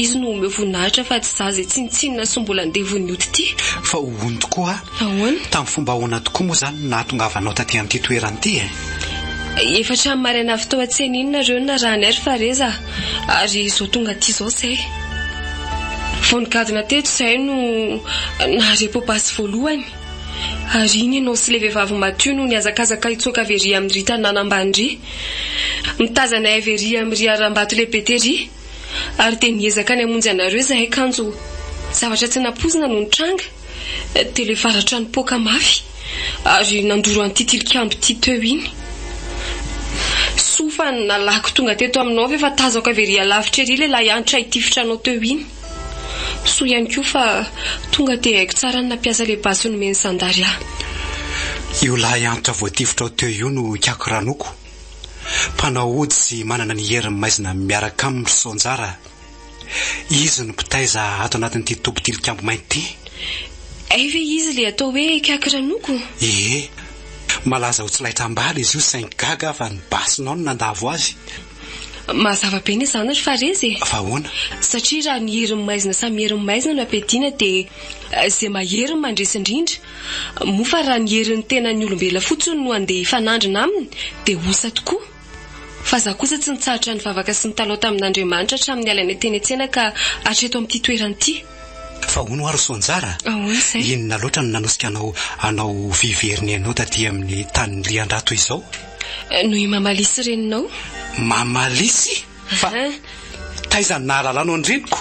[SPEAKER 3] izy no omeo voninahitra fa tsy izaho izay tsinontsinona sy mbola andevon'ny ody ity. Fa hono
[SPEAKER 2] tokoa ah. Ahoana? Tamin'ny fomba
[SPEAKER 3] ahoana tokoa
[SPEAKER 2] moa izany no nahatongavanao taty amin'ity toerana ity eh?
[SPEAKER 3] Efatra ny maraina avy tao an-tsena iny nareo no narahan'i Air fa re za ary izao tonga aty izao zay. Vao nigadona teto zay no nahare popas voalohany ary iny ianao sy le vehivavy maty io no nihazakazaka hitsoaka avy ery amin'i Rita nanambany ry. Mitazana aiva ery amin'i Riarambato lehibe tery. Ary dia niezaka ny hamonjy anareo izahay kanjo zavatra tsy nampoizina no nitranga, dia ilay varatra nipoaka mafy ary nandoro an'ity tilikambo ity teo iny. Soa fa nalako tonga teto aminao ve fa tazako avy ery alavitra ery ilay lahianitra hitifitra anao teo iny. Soa ihany koa fa tonga dia haiko tsara ny nampiasa ilay basy nomen'ny zandary ahy.
[SPEAKER 2] Io lahianitra voatifitrao teo io no ikiakiranoko. Mpanao ody sy manana ny herin'ny maizina miaraka aminy ry Soanjara. Izy no mpitaiza ato anatin'ity toby tilikambo mainty ity. Hay
[SPEAKER 3] ve izy ilay atao hoe Kaky Ranoko? Ie.
[SPEAKER 2] Malaza ho tsy laitra am-bala izy io saingy gaga aho fa ny basy nao no nandavo azy.
[SPEAKER 3] Mazava be ny zanany fa reza e! Fa ahoana?
[SPEAKER 2] Satria raha ny
[SPEAKER 3] herin'ny maizina samy herin'ny maizina no ampiadiana dia izay mahery no mandresy indrindra. Moa fa raha ny herin'ny tenan'ny olombelona fotsiny no handeha hifanandrina aminy dia osa tokoa. Fa za kosa tsy nitsahatra nivavaka sy nitalaho tamin'Andriamanitra hatramin'ny alainay teny an-tsena ka hatreto amin'ity toerana ity. Fa hono ho'a ry
[SPEAKER 2] Soanjara a! Ahoana izay? Inona
[SPEAKER 3] loatra no nanosika
[SPEAKER 2] anao hanao vy very ny ainao taty amin'ny tanin'i Riandrato izao? Noho i
[SPEAKER 3] Mamalisy reninao. Mamalisy?
[SPEAKER 2] Fa taiza no nahalalanao ny reniko?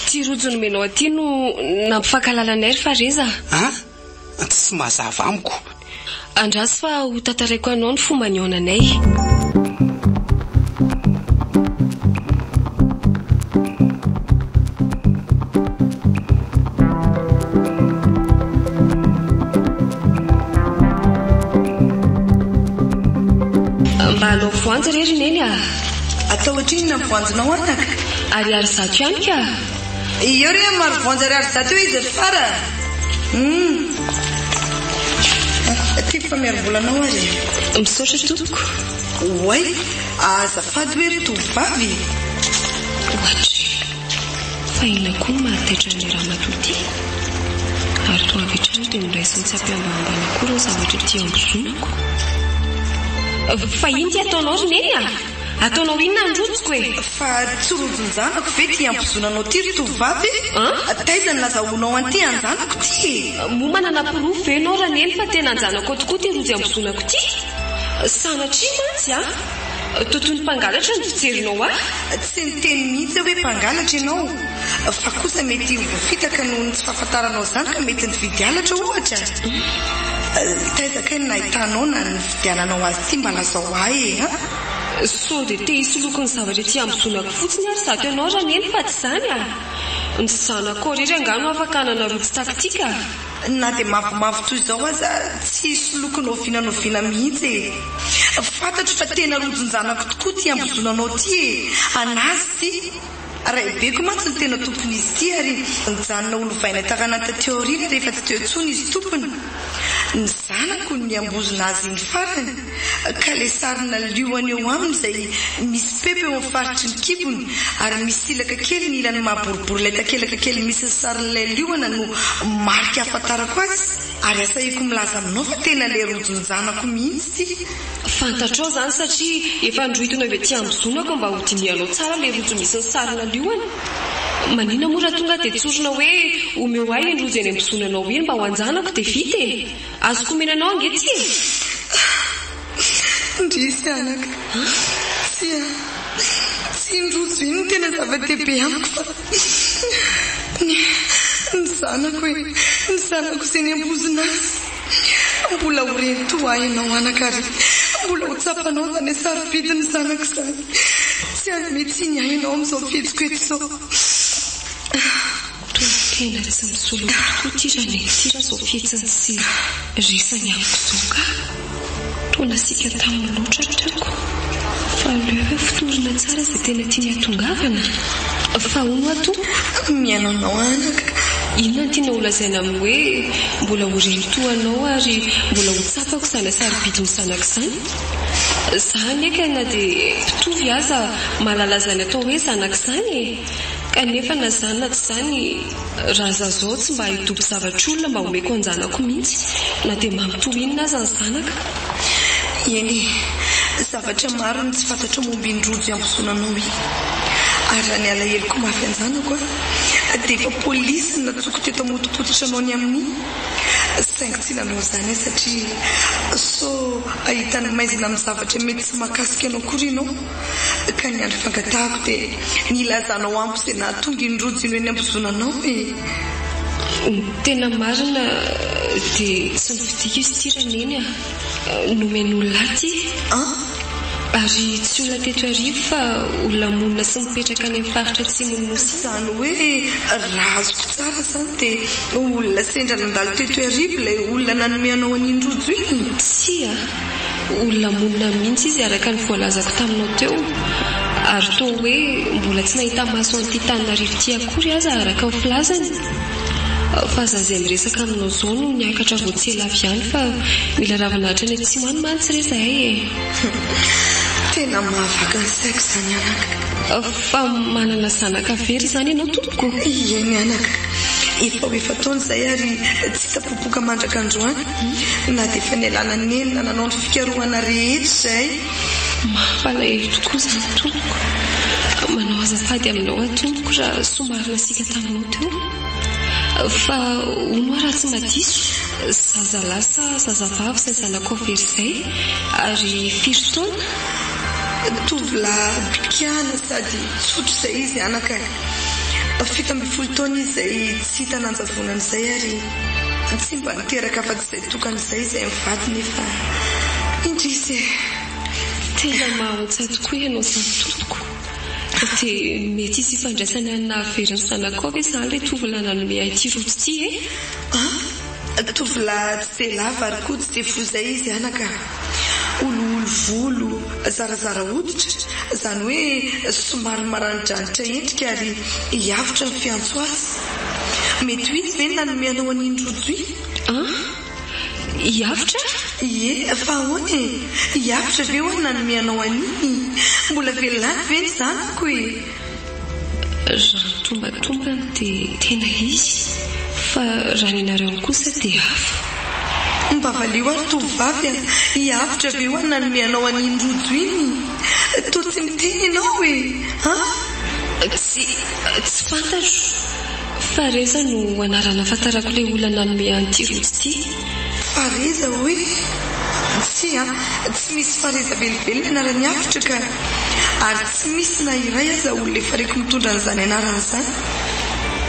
[SPEAKER 2] Ty rojo nomenao
[SPEAKER 3] aty no nampifankahalala anay ry Fareza. An!
[SPEAKER 2] Tsy mazava amiko. Andraso
[SPEAKER 3] fa ho tantaraiko anao ny fomba nihaonanay. Mba hanao voanja re ry Neny a! Atao
[SPEAKER 1] ohatrinona ny voanjonao an taka? Ariary zato
[SPEAKER 3] ihany ka! Eo re
[SPEAKER 1] amin'ny marovoanja ariary zato eo izy ry fara Humm. Aty fa miarimbola anao ary e! Misaotra tompoko.
[SPEAKER 3] Oay!
[SPEAKER 1] Azafady hoe ry tovovavy e!
[SPEAKER 3] Ohatry. Fa inona koa no mahataitra an'ilay ramatoa ity? Ary toa avy hatrany dia noraisiny tsy ampihambahambana koa ireo zavatra ety ambozonako. Fa inona ity ataonao ry Neny a? Ataonao inona ny rojoko e? Fa tsy
[SPEAKER 1] rojon-janako ve ity ambozonanao ity ry tovovavy e? An? Taiza no nazahoanao an'ity anjanako ity e? Moa manana porofo
[SPEAKER 3] ve ianao Raneny fa tena anjanako tokoa ity rojo ambozonako ity? Sanatria mantsy an! Totoin'ny mpangalatra ny fijerinao ahy? Tsy niteny
[SPEAKER 1] mihitsy aho hoe mpangalatra ianao. Fa kosa mety ho voafitaka noho ny tsy fahafantaranao izany ka mety nividy halatra ohatra? Taiza kay no nahitanao na nividiananao azy ity mba lazao ahy e an! Sao
[SPEAKER 3] dia te hisoloky ny zavatra ety amin'ny zonako fotsiny ary zato ianao raha neny fa tsy izany a! Ny zanakao irery angaha no afaka hanana rojo tactique a! Na dia
[SPEAKER 1] mavomavo toy izao aza, tsy hisy loko noviana noviana mihitsy e! Fantatro fa tena rojon-janako tokoa ity hambozona anao ity e! An'azy ity! Raibeko mantsy no tena tompon'izy ity ary nijanona ho lovaina taranaka teo aoriana rehefa tsy teo intsony izy tompony. Ny zanako no nihambozona azy iny farany. ka ilay sarina liona eo aminy izay misy pepa eo amin'ny faritry ny kibony ary misy silaka kely ny ilany maha boribory ilay takelaka kely misy ny sarin'ilay liona no marika ahafantarako azy ary asahiko milaza aminao fa tena ilay rojon-janako mihitsy ity Fantatrao
[SPEAKER 3] izany satria efa androhitony avy aty amin'ny zonako mba ho dinihanao tsara ilay rojo misy ny sarina liona? Manina moa raha tonga aho dia tsorina hoe omeo ahy iny rojo eny amin'ny zonanao iny mba ho an-janako dia vita e! Azoko omena anao ange tsy e! Indrisy
[SPEAKER 1] anaka. Tsy a. Tsy iny rojo iny no tena zava-dehibe amiko fa ny. Ny zanako e! Ny zanako izay niambozona azy. Mbola ho reny toa ahy ianao anaka ary mbola ho tsapanao izany sarobidy ny zanako izany. Tsy hanome tsiny ahy ianao amin'izao fihetsiko eto izao.
[SPEAKER 3] Tonon-kena tsy misoloky tokoa ity raha ny an'ity raha izao fihetsiny sy resany amiko izao ka! Toa nasiaka taminy loatra ny trako. Fa aleo ve fotorina tsara izay tena tiany hatongavana? Fa hono tompoko, mihaino anao aho anaka,
[SPEAKER 1] inona no tianao
[SPEAKER 3] holazaina amin'ny hoe mbola ho reny toa anao ary mbola ho tsapako izany sarobidy ny zanako izany? Za anie ka na dia mpitory aza mahalala izany atao hoe zanaka izany e! Kanefa na izany na tsy izany, raha izaho izao tsy mba hidobo zavatr'olona mba homeko an-janako mihitsy, na dia manontolo inona aza ny zanaka.
[SPEAKER 1] Eny, zavatra maro no tsy fantatro momba iny rojo iambozona anao iny. Ary raha ny alaheloko mafy an-janako aho, dia efa polisy no natsoko teto hamotopototra anao ny amin'iny. Saingy tsy nanao izany aho satria sao hahita ny maizina amin'ny zavatra mety tsy mahakasika anao akory ianao. Ka ny andro fangatahako dia ny hilazanao amiko izay nahatonga iny rojony eny am-bozona anao e! Ny
[SPEAKER 3] tena marina dia tsy nifidiko izy ity ra neny a! Nomen' olona ahy ity! An! Ary tsy olona teto Iarivo fa olona monina sy mipetraka any amin'ny faritra atsimon' ny Nosy any! Izany hoe
[SPEAKER 1] raha azoko tsara izany dia olona sendra nandalo teto Iarivo ilay olona nanome anao an'iny rojo iny? Tsia!
[SPEAKER 3] Olona monina mihitsy izy araka ny voalazako taminao teo, ary toa hoe mbola tsy nahita maso an'ity tanin'arivo ity akory aza araka ny filazany. Fa za izay miresaka aminao zao no niakatra vao tsy ela avy ihany fa mila ravina hatrany atsimo any mantsy re zahay e!
[SPEAKER 1] Tena mahavaky ny saiko izany anaka. Fa manana
[SPEAKER 3] zanaka very izany ianao tompoko? Ieny anaka,
[SPEAKER 1] efa ho efa-taona izay ary tsy hita popoka mandraka androany. Ify na dia efa nialana nenina nanao ny fikarohana rehetra izahay. Mampalahelo
[SPEAKER 3] tokoa izany tompoko. Manao azafady aminao aho tompoko raha somary nasiaka taminao teo. Fa hono aho raha tsy madiso, zaza lahy sa zaza vavy izay zanakao very izay? Ary firy taona? Tovolahy
[SPEAKER 1] bikana sady tsotra izay izy anaka e. Fito ambin'ny folo taona izy izay tsy hita nanjavonana izay ary. Fa tsy mba niteraka afa-tsy izay tokana izay izay mivady nefa indrisy e!
[SPEAKER 3] Tena mahantsa tokoa ianao samy tompoko. Fa dia mety hisy ifandraisany amin'ny nahavery ny zanako koa ve izany ilay tovolahy nanome ahy ity rojo ity e? An?
[SPEAKER 1] Tovolahy tsy dia lava ary koa tsy dia fohy izay izy anaka. Olioly volo zarazara hoditra, izany hoe somary maranidranitra endrika ary hiavotra ny fiantso azy. Mety ho izy ve no nanome anao an'iny rojo iny? An?
[SPEAKER 3] Hiavotra? Ie, fa
[SPEAKER 1] ahoana e? Hiavotra ve ho'a ny nanome anao an'iny? Mbola velona any ve ny zanako e?
[SPEAKER 3] Raha mitombantombana dia tena izy fa raha ny anareo kosa dia hafa. Mba
[SPEAKER 1] valio ary tovovavy a! Hiavotra ve hoa ny nanome anao an'iny rojo iny? Toa tsy miteny ianao e! An?
[SPEAKER 3] Tsy, tsy fantatro. Fareza no anarana ahafantarako ilay olona nanome ahy an'ity rojo ity. Fareza
[SPEAKER 1] hoe? Tsia, tsy misy Fareza velively ny anaran'i Avotra ka! Ary Tsy misy na iray aza olona efa reko mitondra an'izany anarana izany.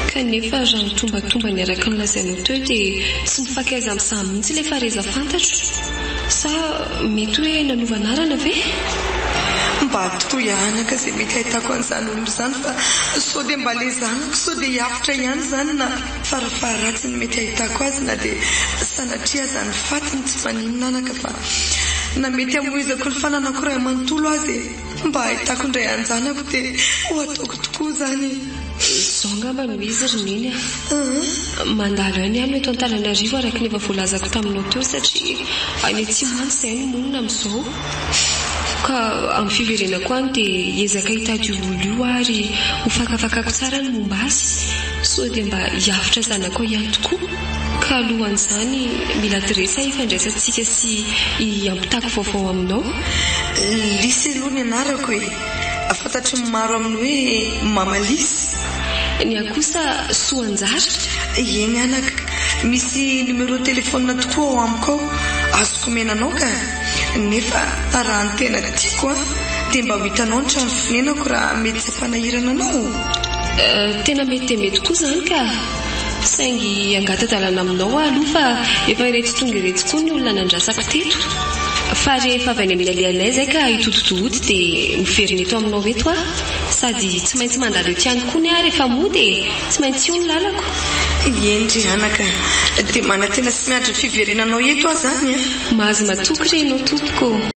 [SPEAKER 1] Kanefa
[SPEAKER 3] raha mitombatomba ny araka ny lazainao teo dia tsy mifankaiza amin'izany mihitsy ilay fareza fantatro. Sa mety hoe nanova anarana ve? Mba
[SPEAKER 1] atoroy anaka izay mety ahitako an'izany olona izany fa sao dia mba ilay zanako sao dia hiavotra ihany izany na farafaharatsiny mety ahitako azy na dia sanatria aza ny fatiny tsy maninona anaka fa na mety hamoizako ny fananako iray manontolo aza e. Mba hahitako indray anjanako dia ho ataoko tokoa izany e! Izao angamba
[SPEAKER 3] no izy ry Neny a! Mandalo aina ihany eto Antananarivo araka ny efa voalazako taminao teo satria any atsimo mantsy izahay no monina amin'izao. Ka amin'ny fiverenako any dia hiezaka hitady io olona io aho ary hofakafakako tsara ny momba azy sao dia mba hiavotra zanakao ihany tokoa. Ka alohan'izany, mila adresse hifandraisantsika sy hiampitako vaovao aminao. Lisy
[SPEAKER 1] aloha ny anarako e! Fantatry ny maro amin'ny hoe Mama Lisy. Ny ahy
[SPEAKER 3] kosa Soanjary. Eny
[SPEAKER 1] anaka, misy numéro téléphone tokoa ao amiko ao azoko omena anao ka! Nefa raha ny tena tiako an, dia mba ho hitanao ny trano fonenako raha mety tsy hampanahirana anao?
[SPEAKER 3] Tena mety dia mety koa izany ka! Saingy angata-dalana aminao aho aloha fa efa iretsy tonga iretsy koa ny olona nandrasako teto. Fa rehefa avy any amin'ny alehanay izay ka hitodi-dohody dia miverina eto aminao eto aho. Sady tsy maintsy mandalo eto ihany koa ny ahy rehefa moa dia tsy maintsy io ny lalako. Eny re
[SPEAKER 1] anaka a! Dia manantena sy miandry ny fiverenanao eto aho izany a! Mahazo matoky
[SPEAKER 3] re ianao tompoko ô!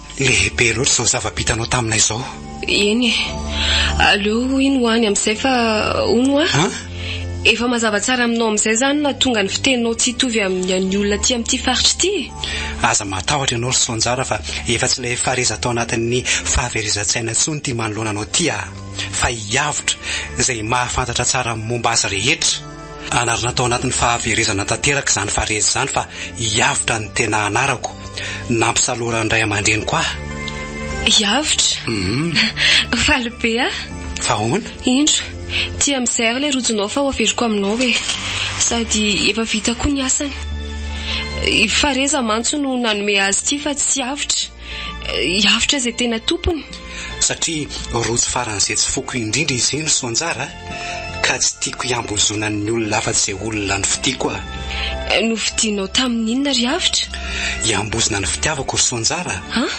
[SPEAKER 2] Lehibe loatra izao zava-bitanao taminay izao. Eny e.
[SPEAKER 3] Aleo hoy ny ho any amin'izay fa hono hoa. An? Efa mazava tsara aminao amin'izay izany na tonga ny fiteninao tsy hitovy amin'ny an'ny olona aty amin'ity faritra ity e. Aza matahotra
[SPEAKER 2] ianao ry Soanjara fa efa tsy ilay fareza tao anatin'ny fahaverezan-tsaina intsony ity manoloana anao ity aho. Fa hiavotra izay mahafantatra tsara ny momba azy rehetra. Anarana tao anatin'ny fahaverezana tanteraka izany fareza izany fa hiavotra ny tena anarako. Nampisaloran'ny ray aman-dreniko ahy. Hiavotra?
[SPEAKER 3] Uhum. Faly be aho. Fa
[SPEAKER 2] ahoana? Indro,
[SPEAKER 3] tia amin'izay ary ilay rojonao fa ho averiko aminao e. Sady efa vita koa ny asany. I Fareza mantsy no nanome azy ity fa tsy hiavotra. Hiavotra izay tena tompony. Satria
[SPEAKER 2] rojo faran'izay tsy foko indrindra izy io ny soanjara ka tsy tiako hiambozona ny olona afa-tsy olona nofidiako aho. Nofidinao
[SPEAKER 3] tamin'ny inona ry Avotra? Hiambozona
[SPEAKER 2] ny fitiavako ry soanjara. An?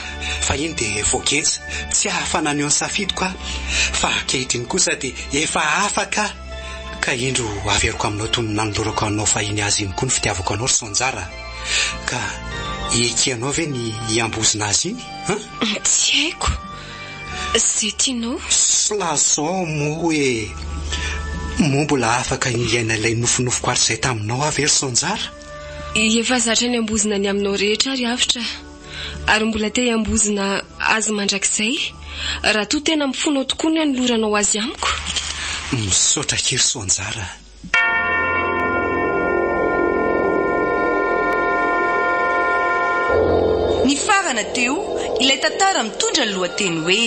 [SPEAKER 2] Fahiny dia voageja tsy hahafa naneho ny safidiko aho fa ankehitriny kosa dia efa afaka aho ka indro averiko aminao toy ny nanolorako anao fahiny azy iny koa ny fitiavako anao ry soanjara. Ka ekenao ve ny hiambozona azy iny an? Tsy haiko.
[SPEAKER 3] Izay tianao. Slason
[SPEAKER 2] moa hoe moa mbola afaka hiaina ilay nofinofiko hatrizay taminao aho ve ry Sonjara? Efa
[SPEAKER 3] zatra niambozona ny aminao rehetra ary avotra. Ary mbola te hiambozona azy mandrakizay raha toa tena mifono ao tokoa ny hanoloranao azy amiko. Misaotra
[SPEAKER 2] akia ry Sonjara.
[SPEAKER 1] Nifarana teo ilay tantara mitondra ny lohateny hoe.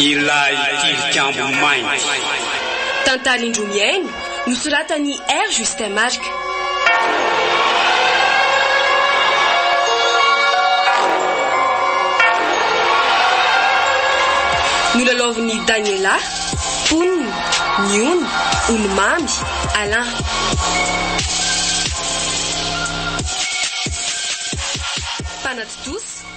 [SPEAKER 4] Ilay Tilikambo Mainty. Tantarin-droa
[SPEAKER 3] mihaino Nosoratan'i R. Justin Marc. Nolalaovin'i Daniela, mponina, ny ony, Olomamy, Alain. Mpanatontosa.